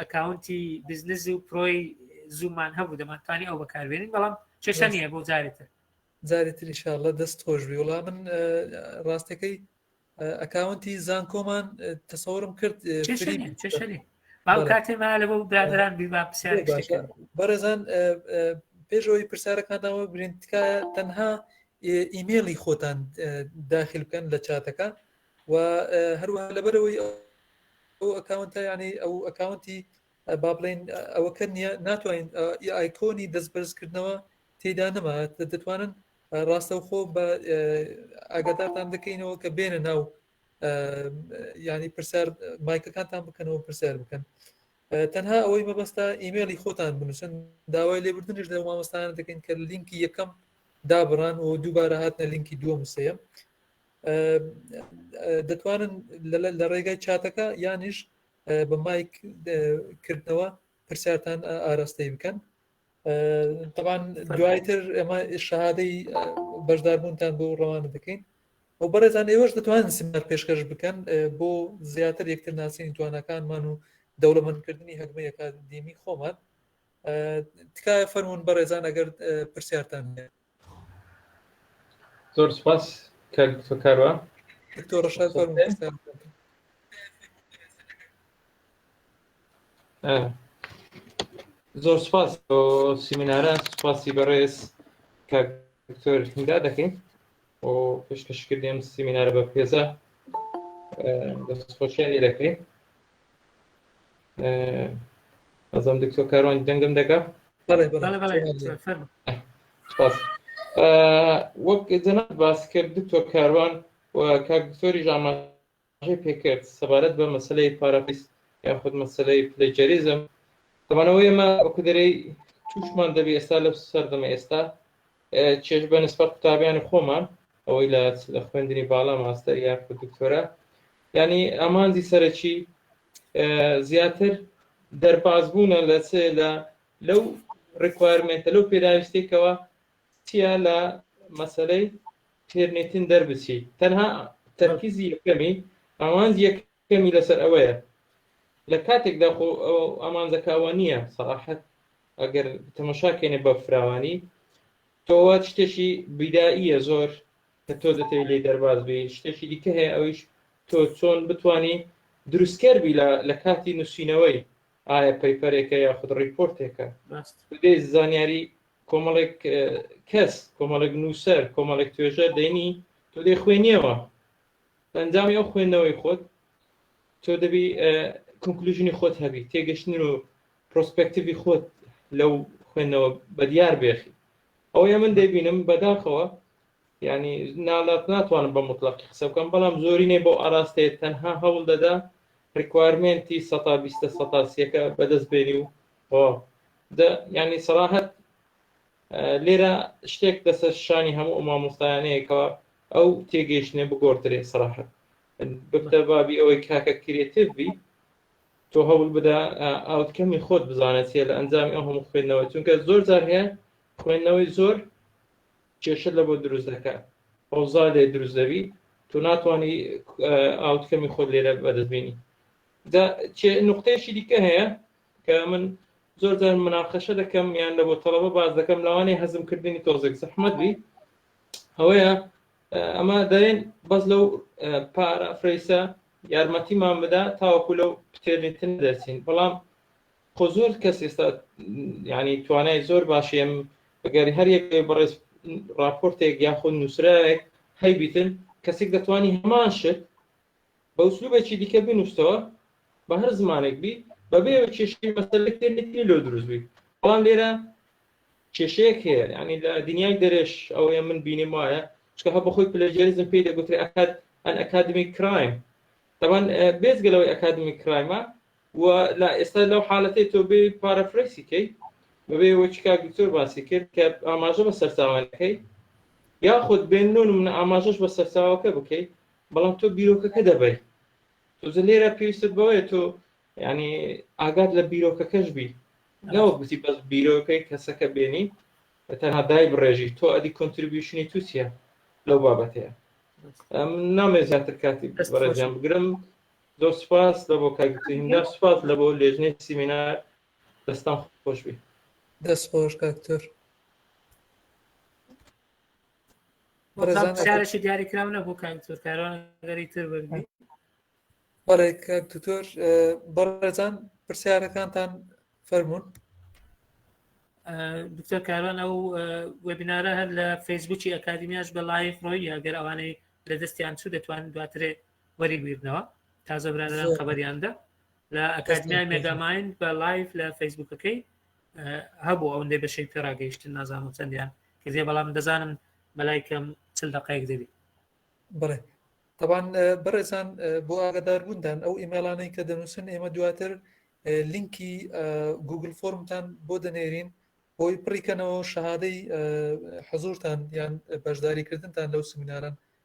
ئەکاونتی بزنس و پرۆی زوومان هەبوو دەمانتوانی ئەو بەکاربێنین بەڵام چێشە نیە بۆ جارێتر جاری تریشاءله دەست خۆش بی وڵام من ڕاستەکەی ئەکاونتی زانکۆمان تەسەورم کرد کاتێما لە بۆ برادران بیما پرسیار بەڕێزان پێشەوەی پرسیارەکانەوە گرنگ تکایە تەنها ئیمێڵی خۆتان داخل بکەن لە چاتەکە و هەروەها لەبەرەوەی ئەو ئەکاونتە یانەی ئەو ئەکاونتی با بڵین ئەوەکە نیە ناتوانین ئایکۆنی دەست بەرزکردنەوە تێدا نەما دەتوانن ڕاستەوخۆ بە ئاگادارتان دەکەینەوە کە بێنە ناو ینی پرسیار مایکەکانتان بکەنەوە پرسیار بکەن تەنها ئەوەی مەبەستا ئیممەلی خۆتان بنووسن داوای لێبردنش لە مامۆستان دەکەین کە لینکی یەکەم دابڕان و دووبارە هاتنە لینکی دووەم سەیە دەتوانن لە ڕێگای چاتەکە یانیش بە مایک کردنەوە پرسیارتان ئاراستەی بکەن تەوان دوایتر ئێمە شادەی بەشداربوونتان بۆ ڕەوانە دەکەین ئەو بەڕێزان ئێوەش دەتوان سیمار پێشکەش بکەن بۆ زیاتر یەکتر ناسینی توانەکانمان و دەوڵەمەندکردنی هەگمەیەکە دیمی خۆمان تکایە فەرمونون بەڕێزان ئەگەر پرسیارتان هەیە زۆر سپاس کاک دکتۆر کاروان دکتۆر ڕەشاد فەرموو پرسیار زۆر سپاس بۆ سیمینارە سپاسی بەڕێز کاک دکتۆر هیندا دەکەین و پێشکەشکردیم سیمینارە بە پێزە دەستخۆشیان لێ دەکەین ئەزم دکتۆ کاروانی دەنگم دەگا وەک جەنا باس کرد دکتۆر کاروان و کاک دکتۆری ژامان پێکرد سەبارەت بە مەسلەی پارافیس یاخود مەسلەی پلەجەریزم دەمانەوە ئێمە ئۆکدرەی تووشمان دەبێ ئێستا لە سەردەمە ئێستا چێژ بە نسبەت قوتابیانی خۆمان ئەوەی لە خوێندنی باڵا ماستەر یاخود دکتۆرە ینی ئامانجی سەرەکی زیاتر دەربازبوونە لە چ لە لەو ڕکوارمێتە لەو پێداویستێکەوە چیا لە مەسلەی تێرنێتن دەربچی تەنها تەرکیزی یەکەمی ئەوان یەکەمی لەسەر ئەوەیە لە کاتێکدا خۆ ئامانجەکەوە نییە سەراحەت ئەگەر تەمەشاکەێنێ بە فراوانی تۆوە شتێکی بیداییە زۆر کە تۆ دەتەوی لێی دەرباز بی، شتێکی دیکە هەیە ئەویش تۆ چۆن بتوانی دروستکەر بی لە لە کاتی نووسینەوەی ئایا پەیپەرێکە یاخود ڕیپۆرتێکە ڕاست. بەبێ زانیاری کۆمەڵێک کەس کۆمەڵێک نووسەر کۆمەڵێک توێژەر دەینی تۆ دەی خوێنیەوە لە ئەنجامی ئەو خوێندنەوەی خۆت تۆ دەبی کنکلوژنی خۆت هەبی تێگەشتن و پرۆسپەکتیوی خۆت لەو خوێندنەوە بەدیار بێخی ئەوەیە من دەبینم بەداخەوە یانی نالات ناتوانم بە موتڵەقی قسە بکەم بەڵام زۆرینەی بەو ئاراستەیە تەنها هەوڵ دەدا ڕیکوارمێنتی سەتا بیستە سەتا سیەکە بەدەست بێنی و تەواو دە یانی سەراحەت لێرە شتێک دەسە شانی هەموو مامۆستایانەیەکەوە ئەو تێگەیشتنە بگۆڕدرێ سەراحەت ببدە بابی ئەوەی کاکە کرێتیڤ بی تۆ هەوڵ بدا ئاوتکەمی خۆت بزانێت چیە لە ئەنجامی ئەو هەموو خوێندنەوە چونکە زۆر جار هەیە خوێندنەوەی زۆر کێشەت لە بۆت دروست دەکات ئەوزا لێ دروست دەبی تۆ ناتوانانی ئاوتکەمی خۆت لێرە بەدەستبینی دا نقطەیەکی دیکە هەیە کە من زۆر جار مناقەشە دەکەم یان لە بۆ تەڵەبە باز دەکەم لەوانەیە هەزمکردنی تۆزێک زەحمەت بی ئەوەیە ئەمە دەێن بەس لەو پارە فرەیسە یارمەتیمان بدا تاوەکو لەو پتێرنیتن دەرچین بەڵام خۆ زۆر کەس ئێستا ینی توانای زۆر باشێم ئەگەری هەر یەک بەڕێز راپۆرتێک یاخود نووسراێک هەیبیتن کەسێک دەتوانانی هەمان شت بە وسلوبێکی دیکە بنووسەوە بە هەر زمانێک بی بەبێ کێشی مەسلێک تێنێتی لۆ دروست بی بەڵام لێرە کێشەیەک هەیە ینی لە دنیای دەرێش ئەوەیە من بینیم وایە چکە هە بەخۆی پلەجێریزم پێی دەگوتری ئەکات ئەن ئەکادمی کرایم دەبان بێزگەلەوەی ئەکادمی کرایمە و لا ئێستا لەو حالەتەی تۆ بێ پارەفرەیسی کەی بەبێ وەچ کاک دکتۆر باسی کرد کە ئاماژە بە سەرچاوەکەی یاخود بێن نۆ نمونە ئاماژەش بە سەرچاوەکە بکەی بەڵام تۆ بیرۆکەکە دەبەی تۆزە لێرە پێویستت بەوەیە تۆ ینی ئاگات لە بیرۆکەکەش بی نەوەک بچی بەس بیرۆکەی کەسەکە بێنی تەنها دای بڕێژی تۆ ئەدی کۆنتریبیوشنی تو چیە لەو بابەتەیە نامێ زیاتر کاتی بەڕێزیان بگرم زۆر سوپاس لە بۆ کاک زیندار سوپاس لە بۆ لێژنەی سیمینار دەستان خۆش بی دەست خۆش کاکتۆر شارێکی دیاری کراو نەبوو کاکتۆر کاران گەری تر بەربی بەڵێ کاک دکتۆر بەڕێزان پرسیارەکانتان فەرمونون دکتۆر کاران ئەو وبینارە هەر لە فەیسبوکی ئەکادمیاش بە لایف ڕۆی ئەگەر ئەوانەی لە دەستیان چوو دەتوان دواترێ وەری بیرنەوە تازە برادران خبریاندا لە ئەکادمیای مێگاماین بە لایف لە فەیسبوکەکەی هەبوو ئەو دێ بەشەی پێراگەیشتن نازانم چەندیان کردێ بەڵام دەزانم بەلای کەم چل دقەیەک دەبی بڵێ طبعاان بەڕێزان بۆ ئاگدار بووندان ئەو ئیمێلانەی کە دەنووسن ئێمە دواتر لینکی گوگل فۆرمتان بۆ دەنێرین بۆی پڕیکەنەوە شەهادەی حەزورتان یان بەشداریکردنتان لەو سمیناران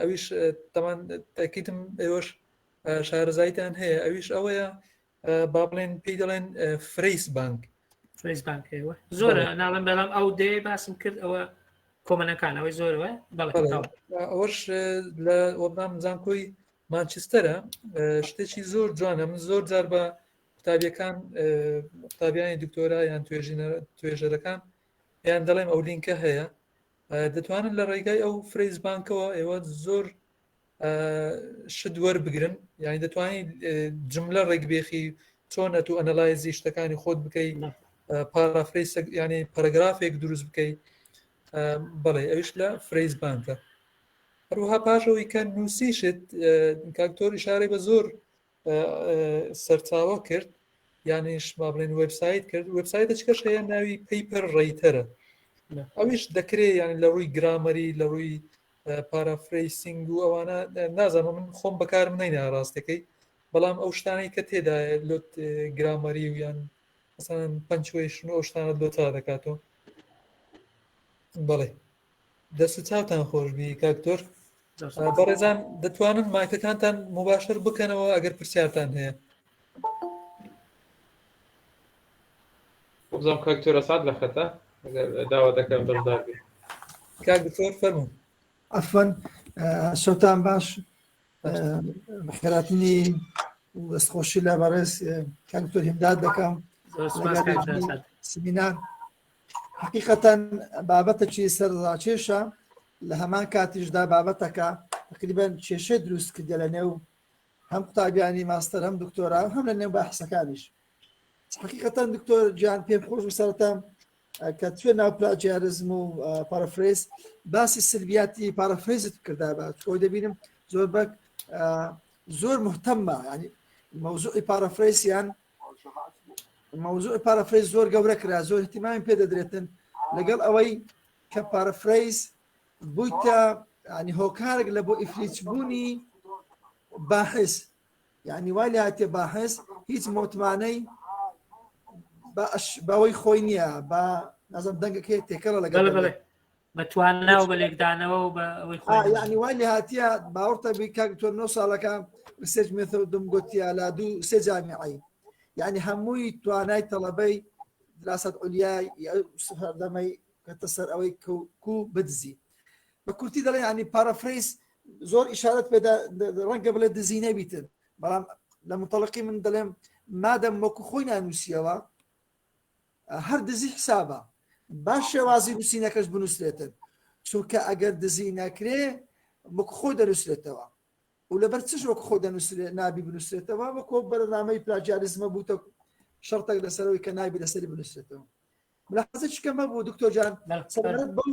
ئەویش تەمان تاکیدم ئێوەش شارەزایتان هەیە ئەویش ئەوەیە با بڵێن پێی دەڵێن فرەیس بانک فرەیس بانک ئێوە زۆر ناڵم بەڵام ئەو دێ باسم کرد ئەوە کۆمەنەکانەوەی زۆرەوە ئەوەش لە وەڵام زانکۆی مانچستەرە شتێکی زۆر جوانە من زۆر جار بە قوتابیەکان قوتابیانی دکتۆرا یان توێژینە توێژەرەکان یان دەڵێم ئەو لینکە هەیە دەتوانن لە ڕێگای ئەو فرەیز بانکەوە ئێوە زۆر شت وەربگرن یعنی دەتوانین جملە ڕێکبێخی چۆن ئەتو ئەنەلایزی شتەکانی خۆت بکەیت پارافری ینی پەرگرافێک دروست بکەیت بەڵێ ئەوش لە فرەیز بانکە هەروها پاشەوەی کە نووسیشت کاکتۆری شارێک بە زۆر سەرچاوە کرد یانیش با بڵێن وبسایت کرد وبسایتە چکەش هەیە ناوی پەیپەر ڕێیتەرە ئەویش دەکرێ یعنی لە ڕووی گرامەری لە ڕووی پارافریسینگ و ئەوانە نازانم من خۆم بەکارم نینە ڕاستەکەی بەڵام ئەو شتانەی کە تێدا لۆت گرامەری و یان مثلا پنچویشن و ئەو شتانە لۆتا دەکاتەوە بەڵێ دەست و چاوتان خۆشبی کاکتۆر بەڕێزان دەتوانن مایکەکانتان مباشر بکەنەوە ئەگەر پرسیارتان هەیە بزانام کاکتۆرە سات لە خەتە داوا دەکەم بەشدار بێت کاک دکتۆر فەرمو ئەفەن شەوتان باش خێراتنی دەستخۆشی لە بەڕێز کاکتۆر هیمداد دەکەم سمینار حقیقەتەن بابەتەکی سەر ڕاکێشە لە هەمان کاتیشدا بابەتەکە تقریبان کێشە دروست کردە لە نێو هەم قوتابیانی ماستەر هەم دکتۆرا هەم لە نێو بەحسەکانیش حقیقەتەن دکتۆر جیان پێم خۆش و سەرتام کە توێ ناو پلاجیارزم و پارافرێز باسی سلبیاتی پارافرێزت کردا بە تۆ دەبینم زۆر بەک زۆر مهتەممە ینی مەوزوعی پارافرێسیان مەوزوع پارافرەیز زۆر گەورە کرا زۆر اهتمامی پێ دەدرێتن لەگەڵ ئەوەی کە پارافرەیز بوویتە ینی هۆکارێک لە بۆ ئیفلیچ بوونی باحس یعنی وای لاتێ باحس هیچ متمانەی بەوەی خۆی نییە بە نازم دەنگەکەی تێکەڵە لەگەڵ بە توانا و بە لێکدانەوە و بە ئەوەی خۆیانی وای لە هااتە باوەڕتە بی کاک تۆ نۆ ساڵەکان ریسێج مێتە دم گوتیا لا دوو سێ جامیعی یعنی هەمووی توانای تەڵەبەی دراست ئۆلیای سەردەمەی کەتە سەر ئەوەی کو بدزی بە کورتی دەڵێ ینی پارەفریس زۆر ئشارەت پێدا ڕەنگە بڵێ دزی نەبیتن بەڵام لە متەڵقی من دەڵێم مادەم وەکو خۆی نانووسیەوە هەر دزی حسابە با شێوازی نووسینەکەش بنووسرێتن چونکە ئەگەر دزی نەکرێ وەک خۆ دەنووسرێتەوە و لەبەر چش وەک خۆ دەنووسرێت نابی بنووسرێتەوە وەکۆ بەرنامەی پلاجیاریزمە بووتە شەڕتەک لەسەرەوەی کە نابی لەسەری بنووسێتەوە ملاحزە چکەمە بۆ دکتۆر جان سەبارەت بەو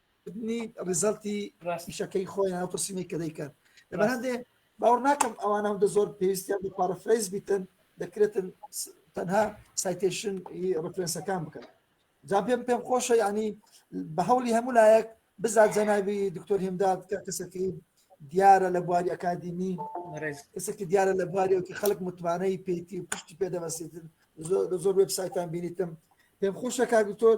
کردنی ڕیزەڵتی ڕاستیشەکەی خۆیان ئەو پرسیینەی کە دەیکەن لەبەر هەندێ باوەڕ ناکەم ئەوان هەندە زۆر پێویستیان بە پارەفرەیز بیتن دەکرێتن تەنها سایتێشن ڕفرەنسەکان بکەن جا پێم پێم خۆشە ینی بە هەولی هەموو لایەک بزات جەناوی دکتۆر هێمداد کە کەسەکەی دیارە لە بواری ئەکادیمی کەسێکی دیارە لە بوارێکی خەڵک متمانەی پێیتی و پشتی پێدەبەسێتن زۆر وبسایتان بینیتم پێم خۆشە کاگوتۆر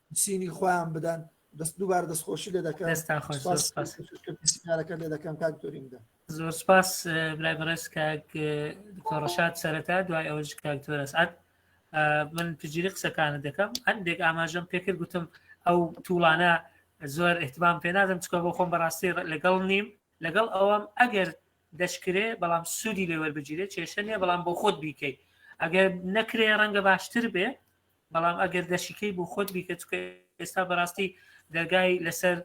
چینی خۆیان بدەن دەست دووبار دەستخۆشی لێ دەکەن لێ دەکەم کاک دوریندا زۆر سپاس برای بەڕێز کاک دکتۆڕەشاد سەرەتا دوای ئەوەش کاک تۆرەس ئەت من پجیری قسەکانە دەکەم هەندێک ئاماژەم پێکرد گوتم ئەو توڵانە زۆر احتمام پێ نادەم چکە بۆ خۆم بەڕاستی لەگەڵ نیم لەگەڵ ئەوەم ئەگەر دەشکرێ بەڵام سوودی لێوەربگیرێت کێشە نیە بەڵام بۆ خۆت بیکەیت ئەگەر نەکرێ ڕەنگە باشتر بێ بەڵام ئەگەر دەشیکەی بۆ خۆت بیکە چکە ئێستا بەڕاستی دەرگای لەسەر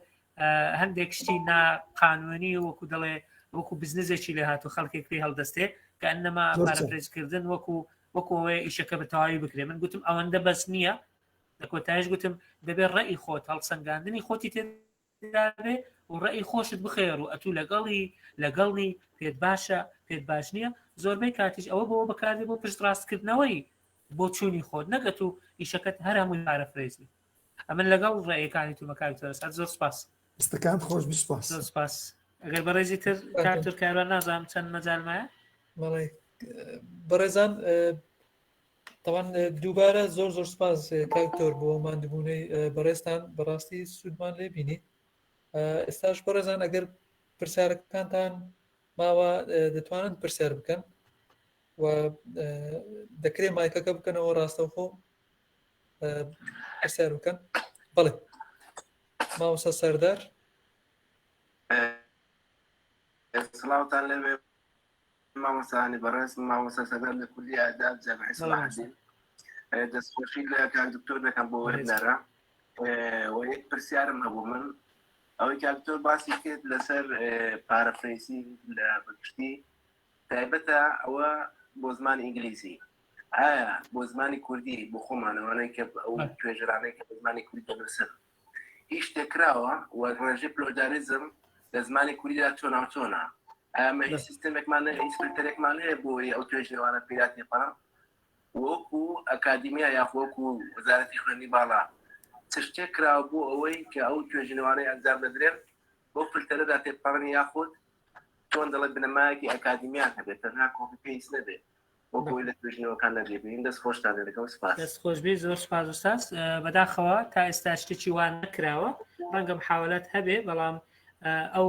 هەندێک شتی ناقانونی وەکو دەڵێ وەکو بزنزێکی لە هاتو خەڵکێک پێ هەڵدەستێ کە ئەنەما پارەپرێزکردن وەکو وەکۆی ئیشەکە بە تەواوی بکرێ من گوتم ئەوەندە بەس نییە لە کۆتایش گوتم دەبێت ڕێی خۆت هەڵسەنگاندنی خۆتی تێ دابێ و ڕێی خۆشت بخێر و ئەتوو لەگەڵی لەگەڵنی پێت باشە پێت باش نییە زۆربەی کاتیش ئەوە بۆ بەکاردێ بۆ پشت ڕاستکردنەوەی بۆ چووی خۆت نەگەت و ئیشەکەت هەر هەمووی پارە فرێزی ئەمن لەگەڵ ڕێیەکانی تو بەکاری تۆرەسات زۆر سپاس ستەکان خۆش بسپاس زۆر سپاس ئەگەر بەڕێزی تر کارتر کاران نازانم چەند مەجالمایە بەڵێ بەڕێزان تاوان دووبارە زۆر زۆر سپاس کاکتۆر بۆ مادبوونەی بەڕێستان بەڕاستی سوودمان لێ بینی ئێستاش بەڕێزان ئەگەر پرسیارەکانتان ماوە دەتوانن پرسیار بکەن و دەکرێت مایکەکە بکەنەوە ڕاستەوخۆ پرسیار بکەن بەڵێ ماوەسە سەردار سڵاوتان لەوێ مامۆستا علی بەڕێز مامۆستا سەردار لە کولی ئاداب جامعی سەڵاحەدین دەستخۆشی لە کاک دکتۆر دەکەم بۆ وێبنەرە و یەک پرسیارم هەبوو من ئەوەی کاک دکتۆر باسی کرد لەسەر پارەفرەیسی لە بەگشتی تایبەتە ئەوە بۆ زمان ئینگلیزی ئایا بۆ زمانی کوردی بۆ خۆمانەوەەی کە ئەو توێژرانەی کە بە زمانی کوردی دەنووسن هیچ شتێک کراوە و ڕێژەی پلۆداریزم لە زمانی کوردیدا تۆناوتۆنا ئەمە هیچ سیستمێکمان ئینسپکتەرێکمان هەیە بۆی ئەو توێژێوانە پیرات نێپەڕ وەکو ئەکادیمیا یاخۆکو وەزارەتی خوێنی باڵا چ شتێک کراوە بۆ ئەوەی کە ئەو توێژینەوانەی ئەنجام دەدرێن بۆ فلتەرەدا تێپەڕن یاخود تۆن دەڵێ بنەمایەکی ئەکادیمیان هەبێت تەنها کۆپی پێیس نەبێت بۆ کۆی لە توێژینەوەکان نەبێ بێین دەست خۆشتان لێ دەکەم سپاس دەست خۆشبی زۆر سپاس وساس بەداخەوە تا ئێستا شتێکی وان نکراوە ڕەنگە محاولات هەبێ بەڵام ئەو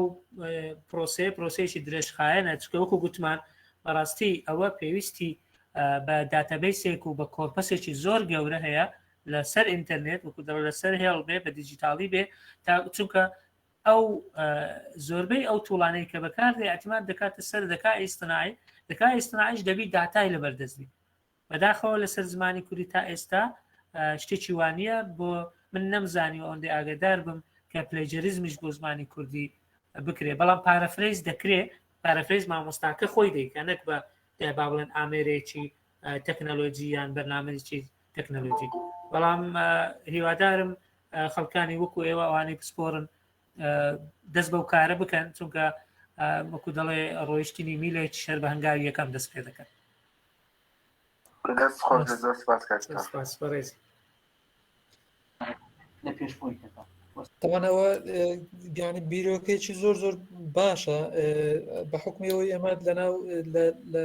پرۆسەیە پرۆسەیەکی درێژخایەنە چکە وەکو گوتمان بەڕاستی ئەوە پێویستی بە داتەبەیسێک و بە کۆرپەسێکی زۆر گەورە هەیە لەسەر ئینتەرنێت وکو دەڵ لەسەر هێڵ بێ بە دیجیتاڵی بێ تا چونکە ئەو زۆربەی ئەو توڵانەی کە بەکاردێ ئەتیمات دەکاتە سەر دەکا ئیسنای دەکا ئیسنایش دەبی داتای لە بەردەستبی بەداخەوە لەسەر زمانی کوردی تا ئێستا شتێکی وانە بۆ من نەمزانی و ئەوەندە ئاگدار بم کە پلەجەریزمش بۆ زمانی کوردی بکرێ بەڵام پارەفرەیز دەکرێ پارەفرەیز مامۆستاکە خۆی دەیکە نەک بە با بڵێن ئامێرێکی تەکنەلۆجی یان بەرنمەێکی تەکنەلۆجی بەڵام هیوادارم خەڵکانی وەکو ئێوە ئەوانەی پسپۆرن دەست بەو کارە بکەن چونکە وەکو دەڵێ ڕۆیشتنی میلێک شەر بە هەنگاوی یەکەم دەست پێ دەکەن لە پێش خۆی کەکە تەوانەوە گیانی بیرۆکێکی زۆر زۆر باشە بە حکمیەوەی ئەمە لەناو لە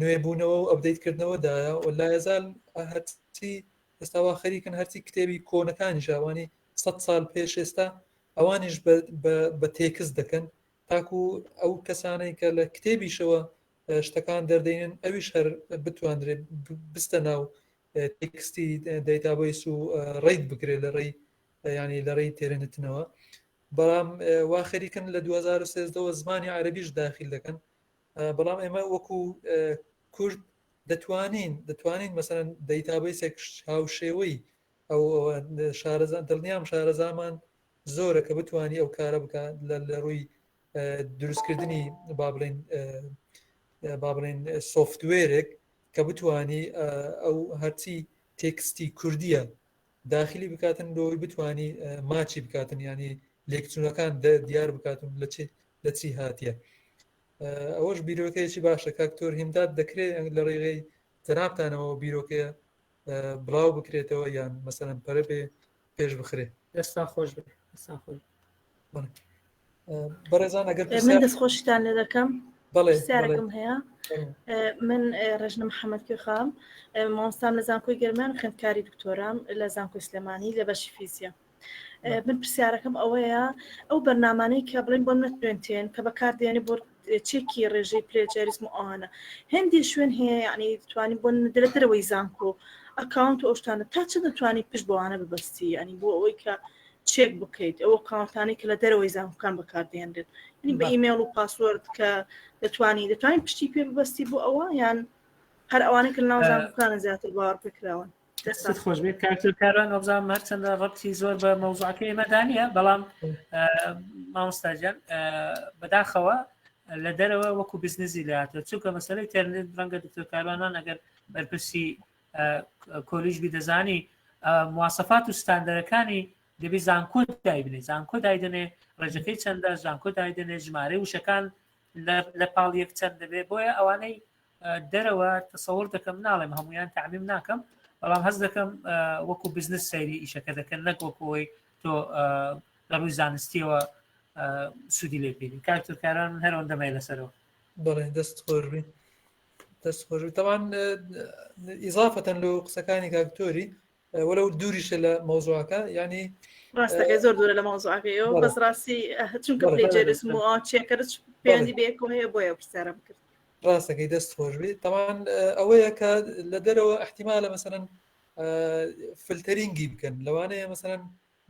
نوێبوونەوە و ئەپدەیت کردنەوە دایە و لایەزال هەرچی ئێستا وا خەریکن هەرچی کتێبی کۆنەکانیش ئەوانی سەد سال پێش ئێستا ئەوانیش بە تێکست دەکەن تاکو ئەو کەسانەی کە لە کتێبیشەوە شتەکان دەردەێنن ئەویش هەر بتواندرێت بستە ناو تێکستی دەیتابیس و ڕیت بکرێت لە ڕێی ینی لە ڕێی تێرنتنەوە بەڵام وا خەریکن لە 2013ەوە زمانی عربیش داخل دەکەن بەڵام ئێمە وەکو کورد دەتوانین دەتوانین مەسەن دەیتابیسێک هاوشێوەی ئەو شارەزان دڵنیام شارەزامان زۆرە کە بتانی ئەو کارە بکات لە ڕووی دروستکردنی با بڵین با بڵین سوفتوێرێک کە بتانی ئەو هەرچی تێکستی کوردیە داخلی بکاتن لۆی بتانی ماچی بکاتن ینی لێکچوونەکان دیار بکاتون لە چ لە چی هاتیە ئەوەش بیرۆکەیەکی باشە کاک تۆر هیمداد دەکرێت لە ڕێگەی جەنابتانەوە بیرۆکەیە بڵاو بکرێتەوە یان مەسەرم پەرە بێ پێش بخرێ دەستان خۆش بێ دەستان خۆش بەڕێزان ئەگەر من دەست خۆشتان لە دەکەم بەڵێسیارەکەم هەیە من ڕژنە محەممەد کوێخام مامۆستام لە زانکۆی گەرمان خوێندکاری دکتۆرام لە زانکۆی سلێمانی لە بەشی فیزیە من پرسیارەکەم ئەوەیە ئەو بەرنامانەی کە بڵین بۆ نەتوێنتێن کە بەکاردێنی بۆ چێکی ڕێژەی پلێجاریزم و ئەوانە هەندی شوێن هەیە یعنی توانی بۆ درەترەوەی زانکۆ ئەکاونت و ئەوشتانە تا چ دەتوانانی پشت بۆوانە ببستی ینی بۆ ئەوەی کە چێک بکەیت ئەوە کاونتانی کە لە دەرەوەی زانکان بەکاردێنرێت ینی بە ئیمێڵ و پاسوەرد کە دەتوانی دەتوانین پشتی پێ ببستی بۆ ئەوە یان هەر ئەوانە کە ناوزانکانە زیاتر باوەڕ پێکراون دەستت خۆش بێت کاکتر کاران ئەوزان هەرچەندە ڕەتی زۆر بە مەوزعەکە ئێمەدا نیە بەڵام مامۆستاجان بەداخەوە لە دەرەوە وەکو بزنزی لاتە چونکە مەسەری تەرنت ڕەنگە دکتۆر کاروانان ئەگەر بەرپرسی کۆلیژ بی دەزانی موواسەفات و ستاندەرەکانی دەبی زانکۆ دایبنێ زانکۆ دایدنێ ڕێژەکەی چەندە زانکۆ دایدنێ ژمارە وشەکان لە پاڵ یەک چەند دەبێت بۆیە ئەوانەی دەرەوە تەسەوەڕ دەکەم ناڵێم هەمویان تعمیم ناکەم بەڵام هەز دەکەم وەکو بزنس سەیری ئیشەکە دەکەن نەک وەکۆی تۆ لە ڕووی زانستیەوە سوودی لێ پێین کارتۆکاران من هەرەوەن دەمای لەسەرەوە بڵێ دەست خۆش بین دەست خۆش تەوان ئیزافەتەن لە قسەکانی کاکتۆری ولو دوریش لە مەوزوعەکە یعنی ڕاستەکەی زۆر دوورە لە مەوزوعەکەیەوە بەس ڕاستی چونکە پێجێرس چێکەرچ پێیانی بێکۆ هەیە بۆیە پرسیارم کرد ڕاستەکەی دەست خۆش بێت تاوان ئەوەیە کە لە دەرەوە احتیمالە مەسەرەن فلتەرینگی بکەن لەوانەیە مەسەرەن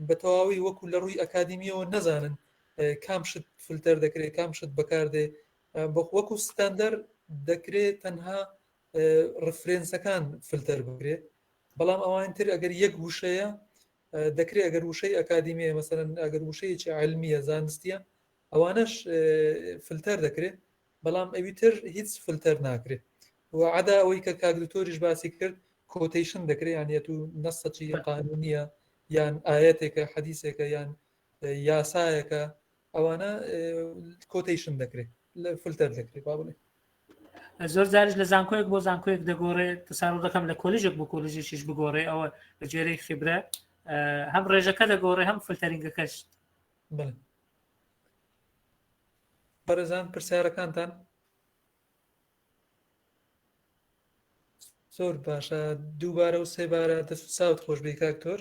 بە تەواوی وەکو لە ڕووی ئەکادمیەوە نەزانن کام شت فلتەر دەکرێت کام شت بەکاردێ بۆ وەکو ستاندەر دەکرێت تەنها ڕفرێنسەکان فلتەر بکرێت بەڵام ئەوان تر ئەگەر یەک وشەیە دەکرێت ئەگەر وشەی ئەکادیمیە مەسەن ئەگەر وشەیەکی علمیە زانستیە ئەوانەش فلتەر دەکرێت بەڵام ئەوی تر هیچ فلتەر ناکرێت وعدا ئەوەی کە کاگرتۆریش باسی کرد کۆتیشن دەکرێت یانەت و نەسەچی قانونیە یان ئاەتێکە حەدیسێکە یان یاسایەکە ئەوانە کۆتەیشن دەکرێت لە فلتەر دەکرێت با بڵێ زۆر جارش لە زانکۆیەک بۆ زانکۆیەک دەگۆڕێ تەساڕ دەکەم لە کۆلیژێک بۆ کۆلیژێکیش بگۆڕێ ئەوە بە جێرەی خیبرە هەم ڕێژەکە دەگۆڕێ هەم فلتەرینگەکەش بەرەزان پرسیارەکانتان زۆر باشە دووبارە و سێبارە دەست ساوت خۆش بێ کاکتۆر